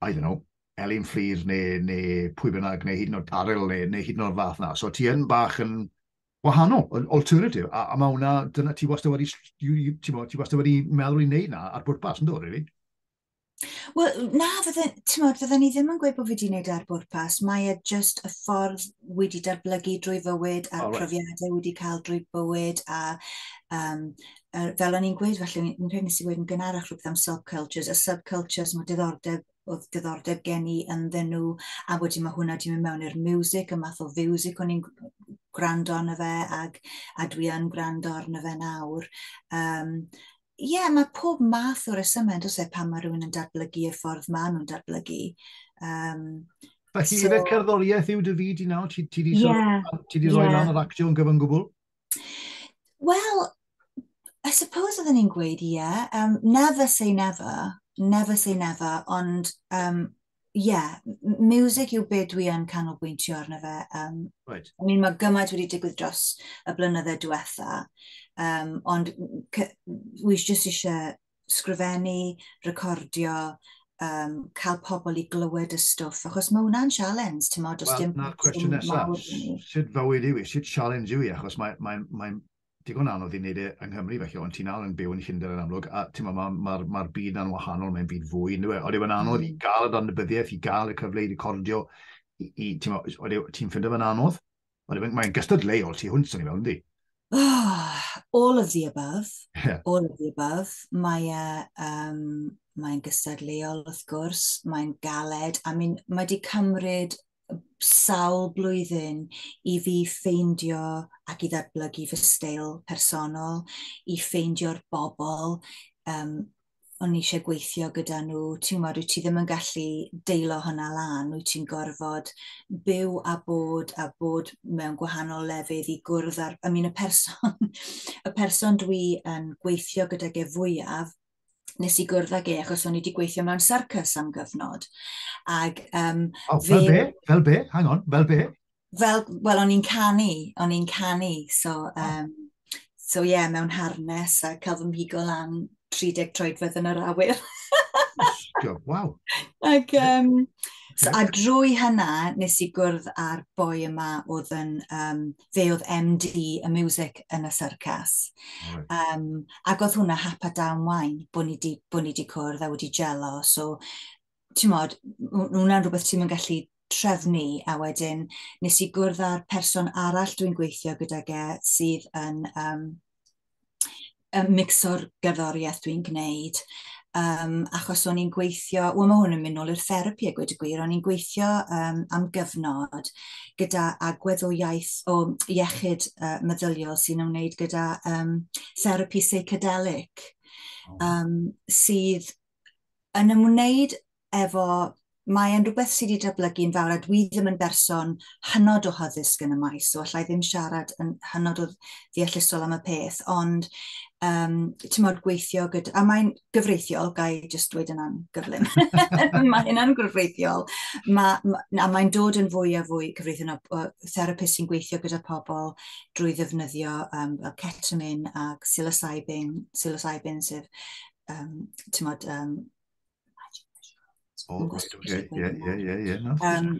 I don't know, Elin Fflur neu, neu pwy bynnag, neu hyd yn oed Arel neu, neu hyd yn oed fath na. So ti yn bach yn wahanol, yn alternative, a, a mae hwnna, dyna ti wastad wedi, ti wastad wedi meddwl i wneud na ar bwrpas, yn dod, really? Wel, na, fydden, tymod, fydden ni ddim yn gweud bod fi wedi gwneud e ar bwrpas. Mae e just y ffordd wedi datblygu drwy fywyd a'r oh, right. profiadau wedi cael drwy bywyd a um, uh, fel o'n i'n gweud, felly, yn rhaid nes i wedi yn gynharach rhywbeth am subcultures, y subcultures mae diddordeb oedd diddordeb gen i ynddyn nhw, a wedyn mae hwnna wedi mynd mewn i'r music, y math o fiwsig o'n i'n gwrando arno fe, ag, a dwi yn gwrando arno fe nawr. Um, Ie, yeah, mae pob math o resymau, dos e, pan mae rhywun yn datblygu y ffordd maen nhw'n datblygu. Um, Felly, so, efe cerddoriaeth yw dy fyd i nawr? Ti wedi yeah, yeah. rhoi lan yr actio yn gyfan gwbl? Wel, I suppose oedden ni'n gweud ie. Yeah. Um, never say never. Never say never. Ond, um, yeah, music yw beth dwi yn canolbwyntio arno fe. Um, right. I mean, mae gymaint wedi digwydd dros y blynydde diwetha, um, ond wi jyst eisiau sgrifennu, recordio, um, cael pobl i glywed y stwff, achos mae hwnna'n sialens, ti'n modd, os well, dim... Na'r cwestiwn nesaf, sut fywyd yw i, sut sialens yw i, achos mae'n mae, mae digon anodd i wneud e yng Nghymru, felly, ond ti'n anodd yn byw yn Llundain yn amlwg, a ti'n modd, mae'r ma, ma, ma byd na'n wahanol, mae'n byd fwy, nid yw e, ond yw'n anodd mm. i gael y danybyddiaeth, i gael y cyfle i recordio, i, i ti'n ti'n ffindio fe'n anodd? Wel, mae'n mae gystadleuol tu hwnt, o'n i'n meddwl, ynddi? Oh, all of the above. Yeah. All of the above. Mae e... Um, mae'n gystadleuol, wrth gwrs. Mae'n galed. I mean, mae wedi cymryd sawl blwyddyn i fi ffeindio ac i ddatblygu fy steil personol, i ffeindio'r bobl um, o'n eisiau gweithio gyda nhw, ti'n gwybod, wyt ti ddim yn gallu deilo hwnna lan, wyt ti'n gorfod byw a bod a bod mewn gwahanol lefydd i gwrdd ar... I mean, y person, y person dwi yn gweithio gyda ge fwyaf, nes i gwrdd ag e achos o'n i wedi gweithio mewn syrcus am gyfnod. Ag, um, oh, fel be? Fel be? Hang on, fel be? fel, wel, o'n i'n canu, o'n i'n canu, so, um, so ie, yeah, mewn harnes a cael fy mhigo lan 30 troedfedd yn yr awyr. Waw. Ac, um, so, a drwy hynna, nes i gwrdd â'r boi yma oedd yn, um, fe oedd MD y music yn y syrcas. Right. Um, ac oedd hwnna hap a dawn wain, bod ni wedi cwrdd a wedi gelo, so ti'n modd, hwnna'n rhywbeth ti'n mynd gallu trefnu a wedyn nes i gwrdd â'r person arall dwi'n gweithio gyda ge sydd yn um, mixo'r gerddoriaeth dwi'n gwneud. Um, achos o'n i'n gweithio, wel mae hwn yn mynd nôl i'r therapi a gweud y gwir, o'n i'n gweithio um, am gyfnod gyda agwedd o iaith o iechyd uh, meddyliol sy'n ymwneud gyda um, therapi psychedelic um, sydd yn ymwneud efo, mae e'n rhywbeth sydd wedi datblygu yn fawr a dwi ddim yn berson hynod o hyddysg yn y maes, so allai ddim siarad yn hynod o ddeallusol am y peth, ond um, ti'n modd gweithio gyda, a mae'n gyfreithiol, gai jyst dweud yna'n gyflym, mae hynna'n gyfreithiol, ma, ma, a mae'n dod yn fwy a fwy cyfreithiol o therapist sy'n gweithio gyda pobl drwy ddefnyddio um, ketamine a psilocybin, psilocybin sef um, tymod, um, Oh, right, okay. yeah, yeah, yeah, yeah. No, um,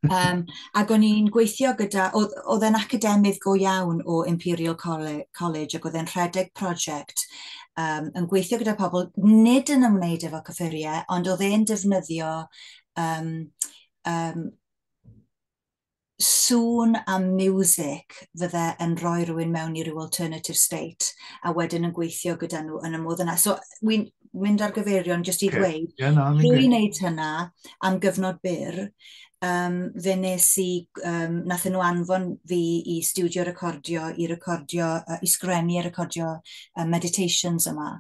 um, ac o'n i'n gweithio gyda, oedd e'n academydd go iawn o Imperial College ac oedd e'n rhedeg prosiect um, yn gweithio gyda pobl, nid yn ymwneud efo cyffuriau, ond oedd e'n defnyddio um, um, sŵn a miwsig fydde yn rhoi rhywun mewn i rhyw alternative state a wedyn yn gweithio gyda nhw yn y modd yna. So, wy'n mynd ar gyfeirion jyst i okay. ddweud, yeah, no, dwi'n gwneud hynna am gyfnod byr, um, fe nes i, um, nath nhw anfon fi i studio recordio, i recordio, uh, i sgrenu a recordio uh, meditations yma.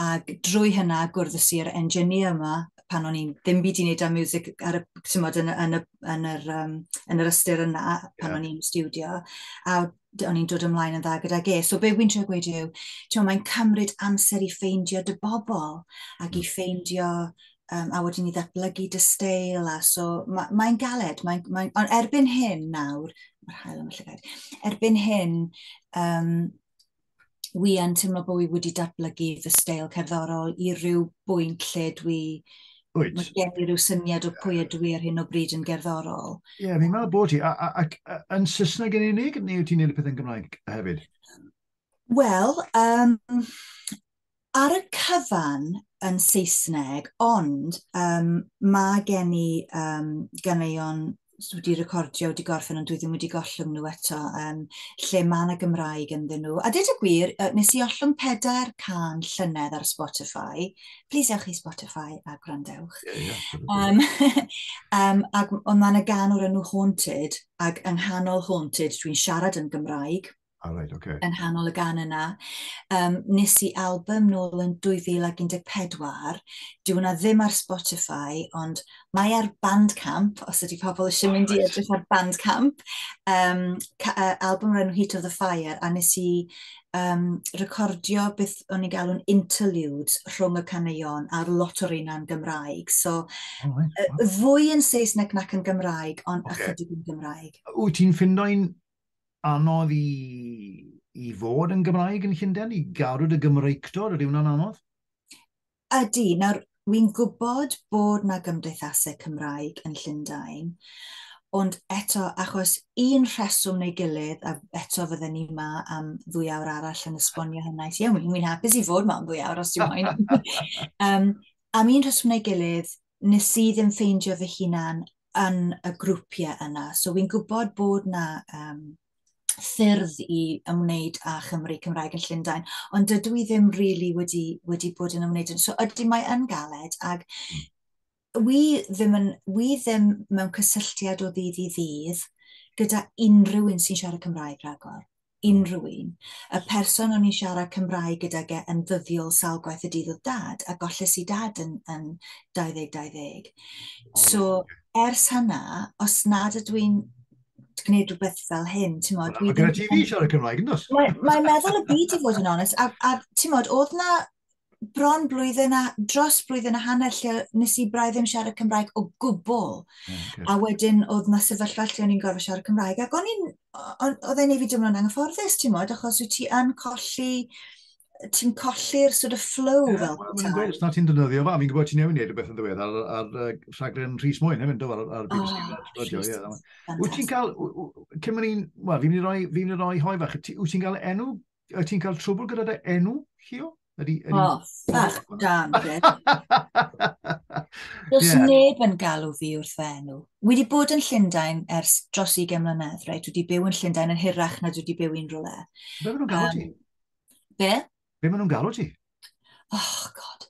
Ac drwy hynna gwrddys i'r engineer yma, pan o'n i'n ddim byd i wneud â music ar y, tymod, yn, yn, y, yn, yr, um, yn yr ystyr yna pan yeah. o'n i'n studio. A o'n i'n dod ymlaen yn dda gyda ge. So be wy'n trio gweud yw, ti'n mae'n cymryd amser i ffeindio dy bobl ac i mm. ffeindio um, a wedyn i ddatblygu dy steil a so mae'n mae galed, mae, mae, ond erbyn hyn nawr, mae'r hael yn y llygaid, erbyn hyn, um, wi yn teimlo bod fi wedi datblygu fy steil cerddorol i ryw bwynt lle dwi... Wyt. Mae gen i ryw syniad o pwy ydw i ar hyn o bryd yn gerddorol. Ie, yeah, fi'n meddwl bod ti. Ac yn Saesneg yn unig, neu wyt ti'n neud y peth yn Gymraeg hefyd? Wel, um, ar y cyfan yn Saesneg, ond um, mae gen i um, ganeuon wedi recordio, wedi gorffen, ond dwi ddim wedi gollwng nhw eto, um, lle mae yna Gymraeg ynddyn nhw. A dweud y gwir, nes i ollwng pedair can llynedd ar Spotify. Please ewch i Spotify a gwrandewch. Yeah, yeah, um, um, ac ond mae yna gan o'r enw Haunted, ac yng nghanol Haunted dwi'n siarad yn Gymraeg. Oh, right, okay. yn hanol y gan yna. Um, nes i album nôl yn 2014. Dwi hwnna ddim ar Spotify, ond mae ar Bandcamp, os ydy pobl eisiau mynd i edrych ar Bandcamp. Um, uh, album rhan Heat of the Fire, a nes i um, recordio beth o'n i'n galw'n interludes rhwng y caneuon a'r lot o'r un Gymraeg. So, oh, right. uh, fwy yn Saesneg nac yn Gymraeg, ond okay. ychydig yn Gymraeg. Wyt ti'n ffindo'n anodd i, i fod yn Gymraeg yn Llundain, i garw dy Gymreictod, ydy hwnna'n anodd? Ydy, nawr wy'n gwybod bod na gymdeithasau Cymraeg yn Llundain, ond eto, achos un rheswm neu gilydd, a eto fydden ni yma am ddwy awr arall yn esbonio hynna. Ie, yeah, wy'n hapus i fod yma am ddwy awr os ti'n moyn. um, am un rheswm neu gilydd, nes i ddim ffeindio fy hunan yn y grwpiau yna. So fi'n gwybod bod na um, ffyrdd i ymwneud â Chymru Cymraeg yn Llundain, ond dydw i ddim rili really wedi, wedi bod yn ymwneud. So ydy mae yn galed, ac wi ddim, yn, wi ddim mewn cysylltiad o ddydd i ddydd gyda unrhyw un sy'n siarad Cymraeg rhagor. unrhyw un. Y person o'n i'n siarad Cymraeg gydag e yn ddyddiol sawl gwaith y dydd oedd dad, a golles i dad yn, yn 2020. So, ers hynna, os nad ydw i'n gwneud rhywbeth fel hyn, ti'n modd... Mae gyda ti fi siarad Cymraeg, yn dos? Mae'n meddwl y byd i fod yn onest, a, a ti'n modd, oedd na bron blwyddyn a, dros blwyddyn a hanner lle nes i braidd ddim siarad Cymraeg o gwbl. Okay. A wedyn oedd na sefyllfa lle o'n i'n gorfod siarad Cymraeg. Ac o'n i'n, oedd e'n ei fi dymlo'n anghyfforddus, ti'n modd, achos wyt ti yn colli, ti'n colli'r sort of flow yeah, fel well, ta. Os na ti'n dynyddio fa, fi'n gwybod ti'n newid neud rhywbeth yn ddiwedd ar, ar, ar rhaglen Rhys Mwyn hefyd, do, ar, ar BBC. Oh, radio, yeah. Wyt ti'n cael, cyn mwyn i'n, wel, fi'n mynd i roi hoi fach, wyt ti'n cael enw Wyt ti'n cael trwbl gyda dy enw, Llio? Ydy, ydy... O, oh, ffach dan, Bryn. Does yeah. neb yn galw fi wrth fy enw. Wi wedi bod yn Llundain ers dros 20 mlynedd, right? Dwi wedi byw yn Llundain yn hirach na dwi wedi byw i'n rhywle. Be maen nhw'n galw ti? Um, be? Be maen nhw'n galw ti? Oh, god.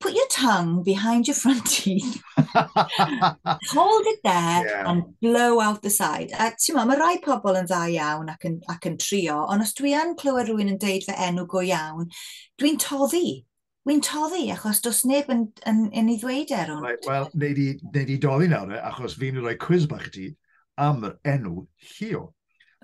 put your tongue behind your front teeth, hold it there yeah. and blow out the side. A ti'n ma, mae rai pobl yn dda iawn ac yn, ac yn trio, ond os dwi yn clywed rhywun yn deud fy enw go iawn, dwi'n toddi. Dwi'n toddi, achos dos neb yn, yn, yn ei ddweud er hwn. Right, Wel, neud i, neud i doddi nawr, e, achos fi'n rhoi quiz bach i ti am yr enw Llio.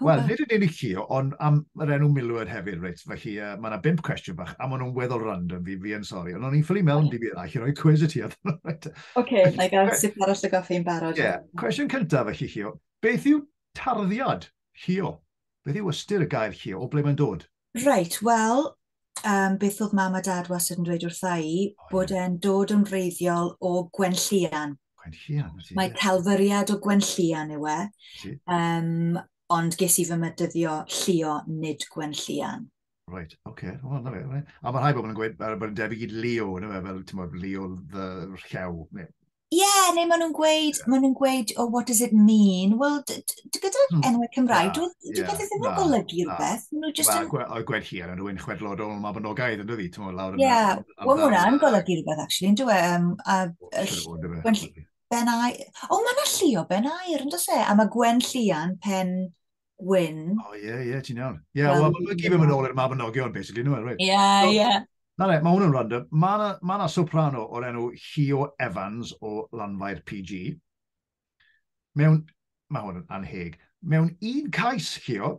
Wel, nid yn unig chi, ond am yr enw milwyr hefyd, reit. Felly, uh, mae yna bimp cwestiwn bach, a maen nhw'n weddol random, fi, fi yn sori. Ond o'n i'n ffili mewn dim i eraill i roi cwiz y ti oedd. Oce, na i gael sut arall y goffi yn barod. Ie, yeah. cwestiwn cyntaf felly, Chio. Beth yw tarddiad, Chio? Beth yw ystyr y gair, Chio? O ble mae'n dod? Reit, wel, um, beth oedd mam a dad wastad yn dweud wrtha i, oh, bod yeah. e'n dod yn wreiddiol o Gwenllian. Gwenllian, ti? Mae talfyriad o Gwenllian yw e, um, ond ges i fy mydyddio llio nid Gwenllian. Right, oce. Okay. Oh, na fe. Right. A mae rhai bobl yn gweud bod yn debyg i Leo, na fe, fel, ti'n bod, Leo the Rhew, neu Ie, neu maen nhw'n gweud, maen nhw'n gweud, oh, what does it mean? Wel, gyda hmm. enwau Cymraeg, dwi wedi beth ddim yn golygu rhywbeth. Maen nhw just yn... Wel, gweud hi ar rhywun chwedlodol yma bonogaeth, ynddo fi, ti'n mwyn lawr yn... Ie, wel, mae hwnna'n golygu rhywbeth, actually, yn dwi. Um, a, ben air... O, mae yna lli o ben air, ynddo se? A mae Gwen Llian, pen gwyn. O, ie, ie, ti'n iawn. Ie, yeah, wel, mae'n gyd yn mynd ôl i'r mabinogion, basically, nhw, right? Ie, ie. Na le, mae hwn yn random. Mae yna ma na soprano o'r enw Hio Evans o Lanfair PG. Mewn, mae hwn yn anheg, mewn un cais, Hio,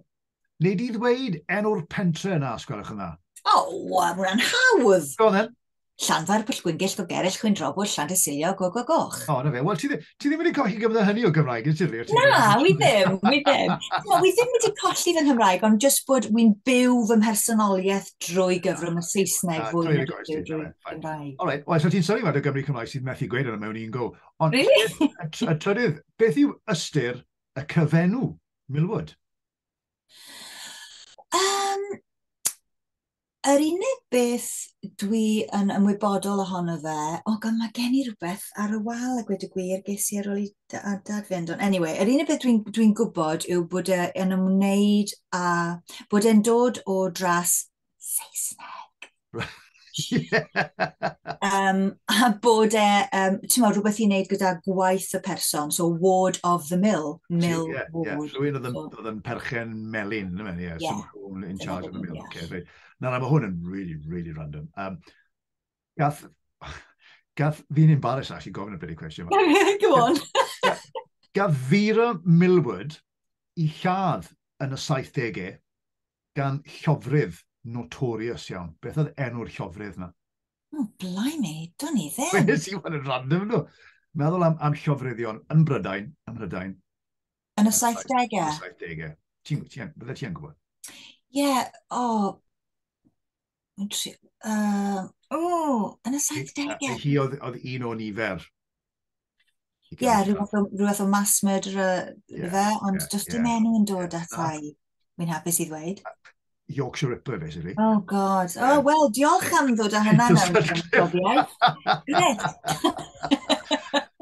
neu di ddweud enw'r pentre yna, os gwelwch yn dda. O, oh, wow, hwnna'n hawdd. Go on then. Llanfair, Pwllgwyngyll, Gogerell, Chwynrobwll, Llandysilio, Go Go Goch. O, na fe. Wel, ti, ti ddim wedi colli gyfnod hynny o Gymraeg, yn ti? Na, wi ddim, wi ddim. no, wi ddim wedi colli fy Nghymraeg, ond jyst bod wy'n byw fy mhersonoliaeth drwy gyfrwng y Saesneg ah, fwy na drwy Gymraeg. All right, well, so ti'n sori fod y Gymru Cymraeg sydd methu gweud yna mewn un go. Ond, really? y trydydd, beth yw ystyr y cyfenw Milwood? Um, Yr unig beth dwi yn ymwybodol ohono fe, o gan mae gen i rhywbeth ar y wal a gwed y gwir, ges i ar ôl i dad fynd. Ond anyway, yr unig beth dwi'n dwi gwybod yw bod e yn ymwneud a bod e'n dod o dras Saesneg. um, a bod e, um, ti'n meddwl, rhywbeth i wneud gyda gwaith y person, so ward of the mill, mill yeah, ward. Yeah. Rwy'n oedd yn perchen melin, yeah. yeah. So, Paul in charge of the meal. Okay, right. Na, na, mae hwn yn really, really random. Um, gath, gath fi'n embarrass actually gofyn y byd i cwestiwn. Go on. gath Vera Millward i lladd yn y 70au gan llofrydd notorious iawn. Beth oedd enw'r llofrydd na? Oh, blimey, dwn i ddim. Nes i fan yn random nhw. Meddwl am, am llofryddion yn Brydain, yn Brydain, Yn y 70au? Yn y 70au. Ti'n ti, ti, ti gwybod? Ie, yeah, o... Oh. Uh, o, oh, yn y 70au. Hi oedd, oedd un o nifer. Ie, yeah, rhywbeth, o, rhywbeth o mass murderer yeah, fe, ond yeah, just yeah. dim enw yn dod yeah. at ai. Mi'n hapus i ddweud. Yorkshire Ripper, basically. Oh, God. Oh, well, diolch am ddod â hynna mewn profiaeth. Gwnes.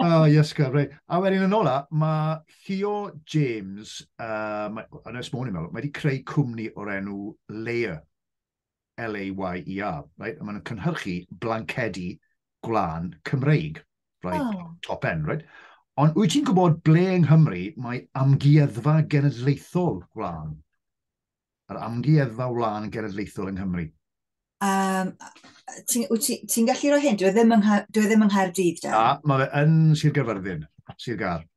Oh, iasga, rei. A wedyn yn ola, mae Theo James, uh, yn ys mwyn i'n meddwl, mae wedi creu cwmni o'r enw Layer. L-A-Y-E-R, right? a maen nhw'n cynhyrchu blancedi gwlân Cymreig, right? oh. top end. Right? Ond wyt ti'n gwybod ble yng Nghymru mae amgueddfa genedlaethol gwlân? Yr amgueddfa wlân genedlaethol yng Nghymru. Um, Wyt ti'n ti, gallu rhoi hyn? Dwi e ddim yng, e ddim yng Nghaerdydd, Dan. A, mae fe yn Sir Gaerfyrddin, Sir Gar.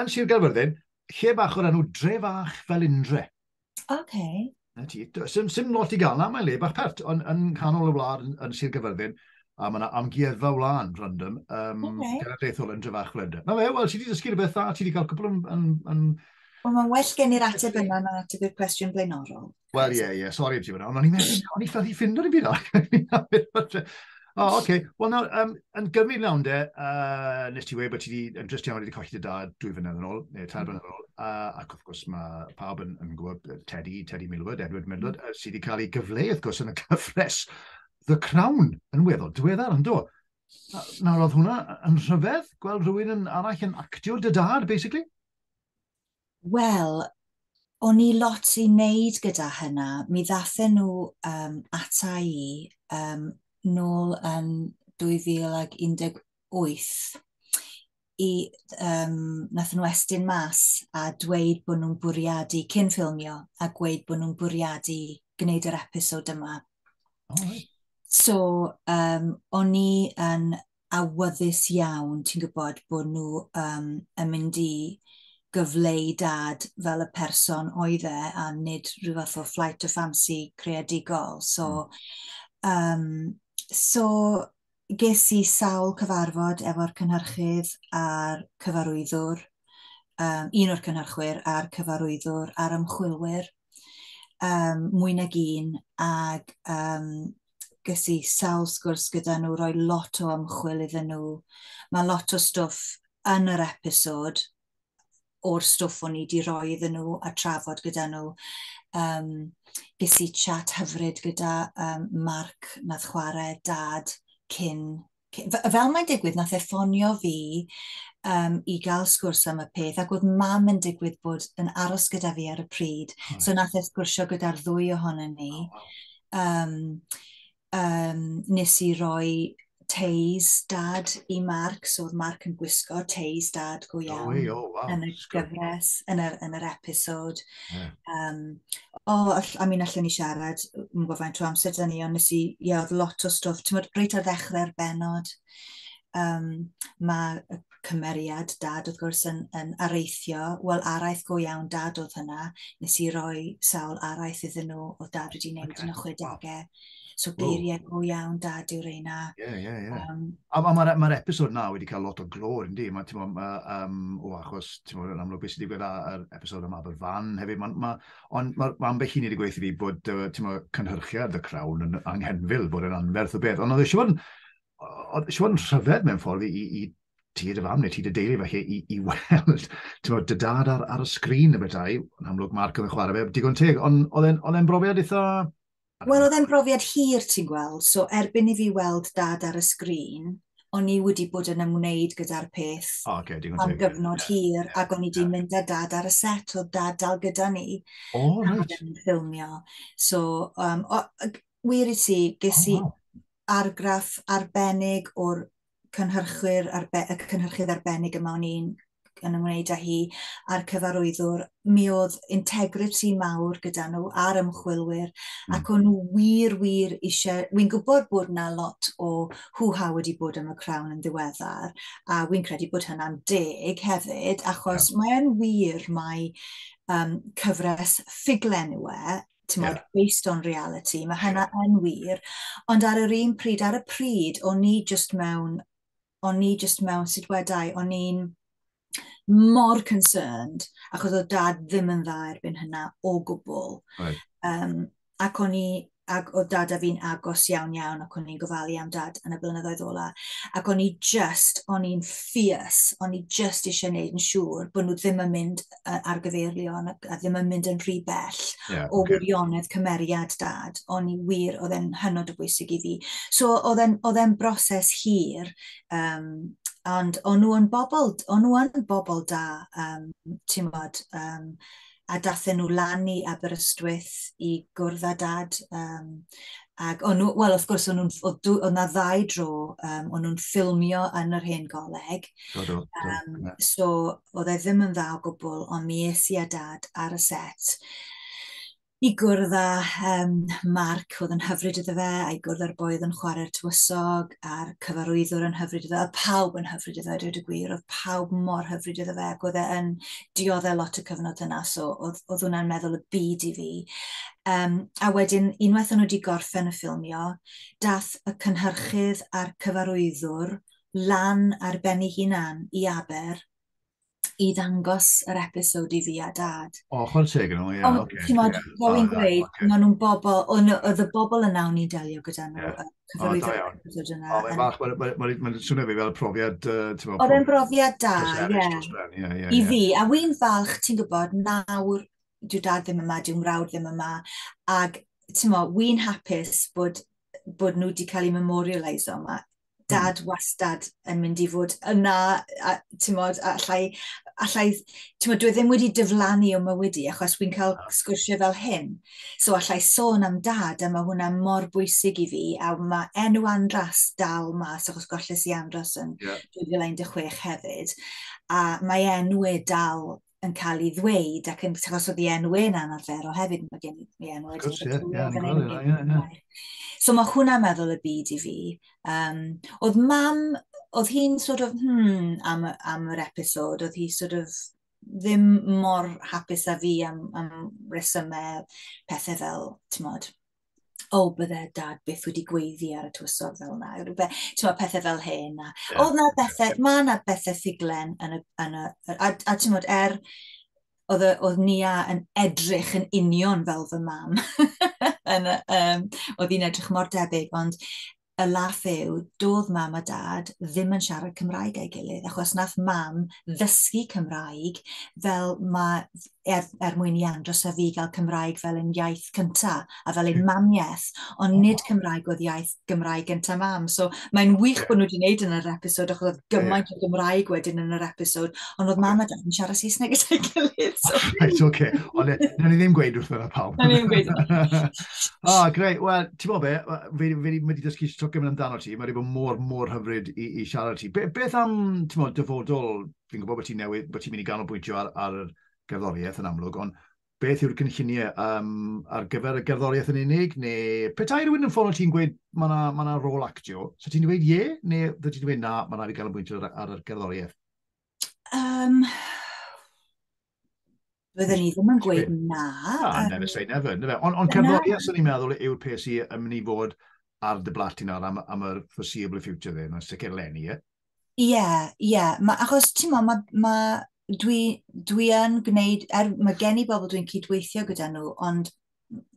yn Sir Gaerfyrddin, lle bach o'r enw Dre Fach fel Indre. Oce. Okay. Na ti, sy'n sym lot i gael na, mae'n le bach pert, ond yn canol y wlad yn, yn Sir Gyfyrddin, a mae yna amgueddfa wlân random um, okay. genedlaethol yn Drefach Flender. Na fe, wel, ti wedi dysgu rhywbeth dda, ti wedi cael cwpl yn... yn, yn... Wel, mae'n well gen i'r ateb yna na ateb i'r cwestiwn blaenorol. Wel, ie, ie, sori am ti fyna, ond o'n i'n meddwl, o'n i'n ffyddi ffind o'n i'n byd O, oce. Okay. Wel, nawr, um, yn gymryd lawn de, uh, nes ti wedi bod ti wedi, yn drist iawn, wedi colli dy dad dwy fynedd yn ôl, neu tair fynedd yn ôl, uh, ac wrth gwrs mae pawb yn, yn gwybod Teddy, Teddy Milwood, Edward Milwood, mm. sydd wedi cael ei gyfleu, wrth gwrs, yn y cyfres The Crown yn weddol diweddar, yn do? Nawr, oedd hwnna yn rhyfedd, gweld rhywun yn arall yn actio dy dad, basically? Wel, o'n i lot i wneud gyda hynna. Mi ddathyn nhw um, ata i um, nôl yn 2018 i, um, nath nhw estyn mas a dweud bod nhw'n bwriadu cyn ffilmio a gweud bod nhw'n bwriadu gwneud yr episod yma. Oh, right. So, um, o'n i yn awyddus iawn, ti'n gwybod, bod nhw um, yn mynd i gyfleu dad fel y person oedd e a nid rhyw fath o flight of fancy creadigol. So, mm. um, so ges i sawl cyfarfod efo'r cynhyrchydd a'r cyfarwyddwr, um, un o'r cynhyrchwyr a'r cyfarwyddwr a'r ymchwilwyr, um, mwy nag un, ac um, ges i sawl sgwrs gyda nhw, rhoi lot o ymchwil iddyn nhw. Mae lot o stwff yn yr episod o'r stwff o'n i wedi rhoi iddyn nhw a trafod gyda nhw. Um, ges i chat hyfryd gyda um, Mark nath chwarae dad cyn fel mae'n digwydd, nath e ffonio fi um, i gael sgwrs am y peth, ac oedd mam yn digwydd bod yn aros gyda fi ar y pryd, oh, so nath e sgwrsio gyda'r ddwy ohonom ni. Oh, wow. um, um, nes i roi teis dad i Mark, so oedd Mark yn gwisgo teis dad go iawn oh, wow. yn y gyfres, yn yr, yn yr episod. Yeah. Um, o, oh, I mean, allan ni siarad, yn gwybod faint o amser da ni, ond nes i, ie, yeah, oedd lot o stwff. Ti'n meddwl, reit ar ddechrau'r benod, um, mae y cymeriad dad, wrth gwrs, yn, yn areithio. Wel, araith go iawn dad oedd hynna. Nes i roi sawl araith iddyn nhw o dad wedi wneud okay. yn y chwedegau. So geiriau go iawn da diw reina. Ie, ie, ie. A mae'r ma episod na wedi cael lot o glor, yndi? Mae, ti'n ma, um, o, achos, ti'n ma, yn amlwg beth sydd wedi gwneud ar episod yma fel fan hefyd. Ond ma, on, ma, ma ambell un wedi gweithio fi bod, ti'n ma, cynhyrchiad y crawn yn anghenfil, bod yn anferth o beth. Ond oedd eisiau bod yn rhyfedd mewn ffordd i, i, i ti dy fam neu ti dy deulu falle i, i weld ti'n dy dad ar, ar y sgrin y bethau, yn amlwg Mark oedd yn chwarae fe, digon teg, ond oedd e'n brofiad eitha Wel, oedd e'n brofiad hir, ti'n gweld. So, erbyn i fi weld dad ar y sgrin, o'n i wedi bod yn ymwneud gyda'r peth oh, okay, am gyfnod yeah. hir, yeah. ac o'n i wedi yeah. mynd â dad ar y set, oedd dad dal gyda ni. Oh, right. Oedd e'n ffilmio. So, um, o, wir i ti, ges oh, i wow. argraff arbennig o'r cynhyrchwyr arbe y cynhyrchydd arbennig yma o'n i'n yn ymwneud â hi a'r cyfarwyddwr, mi oedd integrity mawr gyda nhw a'r ymchwilwyr mm. ac o'n nhw wir, wir eisiau, wy'n gwybod bod na lot o hwha wedi bod yn y crawn yn ddiweddar a wy'n credu bod hynna'n deg hefyd achos yeah. mae'n wir mae um, cyfres ffuglen yw e timod, yeah. based on reality, mae hynna yeah. yn wir. Ond ar yr un pryd, ar y pryd, o'n ni just mewn, o'n ni just mewn sut wedau, o'n ni'n mor concerned, achos oedd dad ddim yn dda erbyn hynna o gwbl. Right. Um, ac o'n i, ac oedd dad a fi'n agos iawn iawn ac o'n i'n gofalu am dad yn y blynyddoedd ola. Ac o'n i just, o'n i'n ffias, o'n i just eisiau gwneud yn siŵr bod nhw ddim yn mynd ar gyfeirion a ddim yn mynd yn rhy bell yeah, o okay. wirionedd cymeriad dad, ond i wir oedd e'n hynod o bwysig i fi. So oedd e'n broses hir, um, ond o'n nhw yn bobl, o'n nhw yn bobl da, um, ti'n modd, um, a dathen nhw lan i Aberystwyth i gwrdd â dad. Um, Ac o'n nhw, wel wrth gwrs, o'n nhw'n, oedd dw- oedd 'na ddau dro, um, o'n nhw'n ffilmio yn yr hen goleg. Do, do, do. Um, so, oedd e ddim yn dda o gwbl, ond mi es i a dad ar y set i gwrdd â um, Mark, oedd yn hyfryd iddo fe, a'i gwrdd â'r boedd yn chwarae'r tywysog, a'r cyfarwyddwr yn hyfryd iddo fe, oedd pawb yn hyfryd iddo fe, dweud y gwir, oedd pawb mor hyfryd iddo fe, ac oedd e yn dioddau lot y cyfnod yna, so oedd, oedd hwnna'n meddwl y byd i fi. Um, a wedyn, unwaith o'n nhw wedi gorffen y ffilmio, dath y cynhyrchydd a'r cyfarwyddwr lan ar ben ei hunan i Aber i ddangos yr episod i fi a dad. O, oh, chwrdd teg yn nhw, ie. Ond, okay, ti'n modd, yeah. fel i'n gweud, okay. maen nhw'n bobl, oedd y bobl yna o'n i'n delio gyda nhw, yeah. cyfarwydd yr episod yna. O, mae'n fach, mae'n swnio fi fel profiad... Uh, oedd e'n brofiad da, ie. Yeah. Yeah, yeah, I fi, a wy'n falch, ti'n gwybod, nawr dyw dad ddim yma, dyw mrawd ddim yma, ac ti'n mo, wy'n hapus bod, bod nhw wedi cael eu memorialisio yma. Hmm. Dad mm. wastad yn mynd i fod yna, a, ti'n mo, allai, allai, ti'n mo, dwi e ddim wedi dyflannu o mywyd achos wy'n cael ah. sgwrsio fel hyn. So allai sôn am dad, a mae hwnna mor bwysig i fi, a mae enw Andras dal mas, achos golles i Andras yn yeah. 2016 hefyd, a mae enw e dal yn cael ei ddweud ac yn achos oedd ei enw e'n anarferol hefyd, mae gen i enw wedi gwrs, ie, ie, ie, ie. So mae hwnna meddwl y byd i fi. Um, oedd mam, oedd hi'n sort of, hmm, am, am yr episod, oedd hi sort of ddim mor hapus a fi am, am resymau pethau fel, ti'n modd, o, oh, bydde dad byth wedi gweiddi ar y tywysog fel yna, ti'n pethau fel hyn. A, yeah. Oedd na bethau, mae na bethau ffuglen yn y... Yn y a, a ti'n modd, er, oedd, oedd Nia yn edrych yn union fel fy mam. yn, um, oedd hi'n edrych mor debyg, ond y laff yw, doedd mam a dad ddim yn siarad Cymraeg a'i gilydd, achos nath mam ddysgu Cymraeg fel mae, er, er mwyn i Andros a fi gael Cymraeg fel yn iaith cynta a fel yn mamiaeth, ond nid Cymraeg oedd iaith Gymraeg gynta mam. So mae'n wych bod nhw wedi gwneud yn yr episod, achos oedd gymaint o Gymraeg wedyn yn yr episod, ond oedd mam a dad yn siarad Saesneg gyda'i gilydd. So. Right, okay. Ond e, ni ddim gweud wrth yna pawb. Na, ni ddim gweud yna. oh, great. Well, Ti'n bod be, fi, fi, fi wedi dysgu stwc yn amdano ti, mae wedi bod mor, mor hyfryd i, i siarad ti. Be, beth am, ti'n bod, dyfodol, fi'n gwybod bod ti'n newid, bod ti'n mynd i ganolbwyntio ar, ar y gerddoriaeth yn amlwg, ond beth yw'r cynlluniau um, ar gyfer y gerddoriaeth yn unig, neu petai rhywun yn ffono ti'n gweud mae yna ma, na, rôl actio, so ti'n dweud ie, neu dwi ti'n dweud na, mae yna i ganolbwyntio ar, ar y gerddoriaeth? Um, Byddwn ni ddim yn gweud na. Na, um, never say never. never. Ond on cerddoriaeth, sy'n ni'n meddwl, yw'r peth sy'n yn mynd i fod ar dy blat i nawr am, am yr foreseeable future dde, mae'n sicr lenni, ie? Ie, yeah, ie. Yeah. Ma, achos, ti'n mo, mae ma, dwi, dwi yn gwneud, er, mae gen i bobl dwi'n cydweithio gyda nhw, ond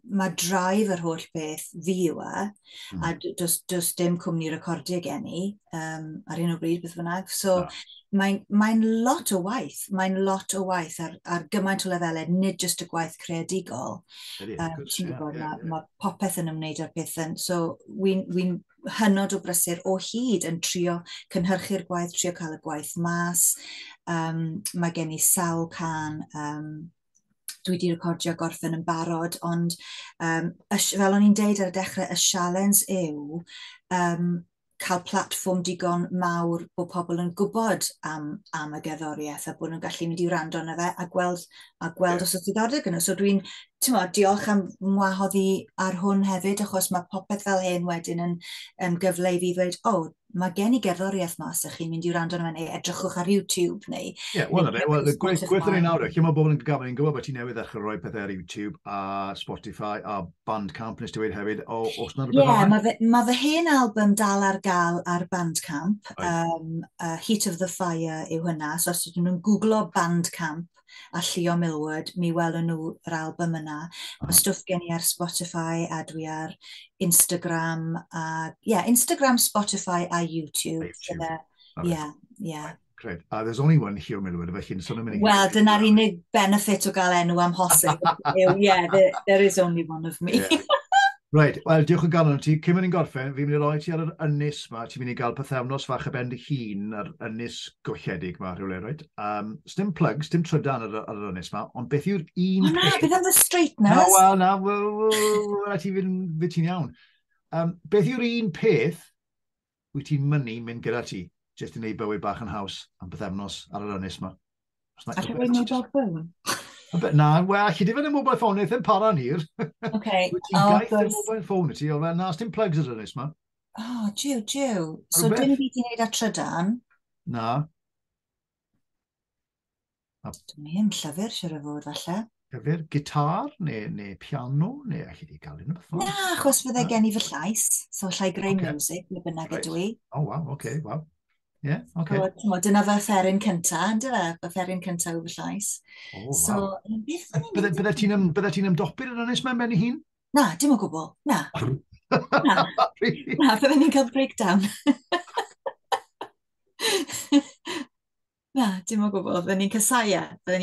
mae drive yr holl beth fi yw e, mm. a hmm. does, does dim cwmni recordio gen i um, ar un o bryd beth bynnag. So no. mae'n mae lot o waith, mae'n lot o waith ar, ar gymaint o lefelau, nid jyst y gwaith creadigol. Um, Ti'n gwybod, yeah, yeah. mae popeth yn ymwneud â'r peth yn. So wy'n wi hynod o brysur o hyd yn trio cynhyrchu'r gwaith, trio cael y gwaith mas. Um, mae gen i sawl can um, dwi wedi recordio gorffen yn barod, ond um, fel o'n i'n deud ar y dechrau, y sialens yw um, cael platfform digon mawr bod pobl yn gwybod am, am y gerddoriaeth a bod nhw'n gallu mynd i wrando yna fe a gweld, a gweld yeah. os oedd diddordeb gyda. So dwi'n, ti'n modd, diolch am wahodd i ar hwn hefyd, achos mae popeth fel hyn wedyn yn, yn gyfle i fi ddweud, o, oh, mae gen i gerddoriaeth ma, os ydych chi'n mynd i wrando arno fe, neu edrychwch ar YouTube, neu... Ie, yeah, wel, yna, wel, y gwaith yn ei nawr, lle mae bobl yn gyfan, yn gwybod bod ti newydd ddechrau rhoi pethau ar YouTube, a Spotify, a Bandcamp, nes ti wedi hefyd, o, os na rhywbeth yeah, mae fy, ma fy hen album dal ar gael ar Bandcamp, right. um, uh, Heat of the Fire yw hynna, so os ydyn nhw'n googlo Bandcamp, Rap a Llio Millward, mi welwn nhw yr album yna. Mae stwff gen i ar Spotify a dwi ar Instagram a yeah, Instagram, Spotify a YouTube. Ie, ie. Yeah. Cred. Uh, there's only one Llio Millward, felly yn sôn am unig. Wel, dyna'r unig benefit o gael enw am hosib. yeah, there, there is only one of me. Yeah. Right, wel, diolch yn galon ti. Cymru ni'n gorffen, fi'n mynd i roi ti ar yr ynys ma. Ti'n mynd i gael pethefnos fach y bend hyn ar ynys golledig ma, rhywle, right? Um, sdim plug, sdim trydan ar, ar yr ynnes yma, ond beth yw'r un... O na, beth am the straightness? Na, wel, na, wel, wel, ti fynd ti'n iawn. Um, beth yw'r un peth wyt ti'n mynnu mynd gyda ti, jyst i wneud bywyd bach yn haws am bythefnos ar yr ynnes yma? A ti'n gwneud mobile ffôn? Na, wel, chi di fod yn mobile ffôn, eithin para ni'r. Oce. Wyt ti'n oh, gaeth yn mobile ffôn i ti, o fel, na, sdim plugs ar ynnes yma. Oh, jiw, jiw. So, dim byd i'n neud a trydan? Na. Dwi'n hyn llyfr, siwr o fod, falle. Llyfr, gitar, neu, neu piano, neu allai di gael un o'r ffordd. Na, achos fydde gen i fy llais, so allai greu okay. music, neu bynnag right. ydw i. O, oh, waw, oce, okay, waw. Ie, yeah, oce. Okay. So, dyna fy fferin cynta, yn dyfa, fy fferin cynta yw fy llais. O, oh, so, waw. Bydde ti'n ymdopi'r yn ynnes mae'n benni hun? Na, dim o gwbl, na. na, na, bydde ni'n cael breakdown. Na, dim o gwbl. Fydden ni'n casau e. Fydden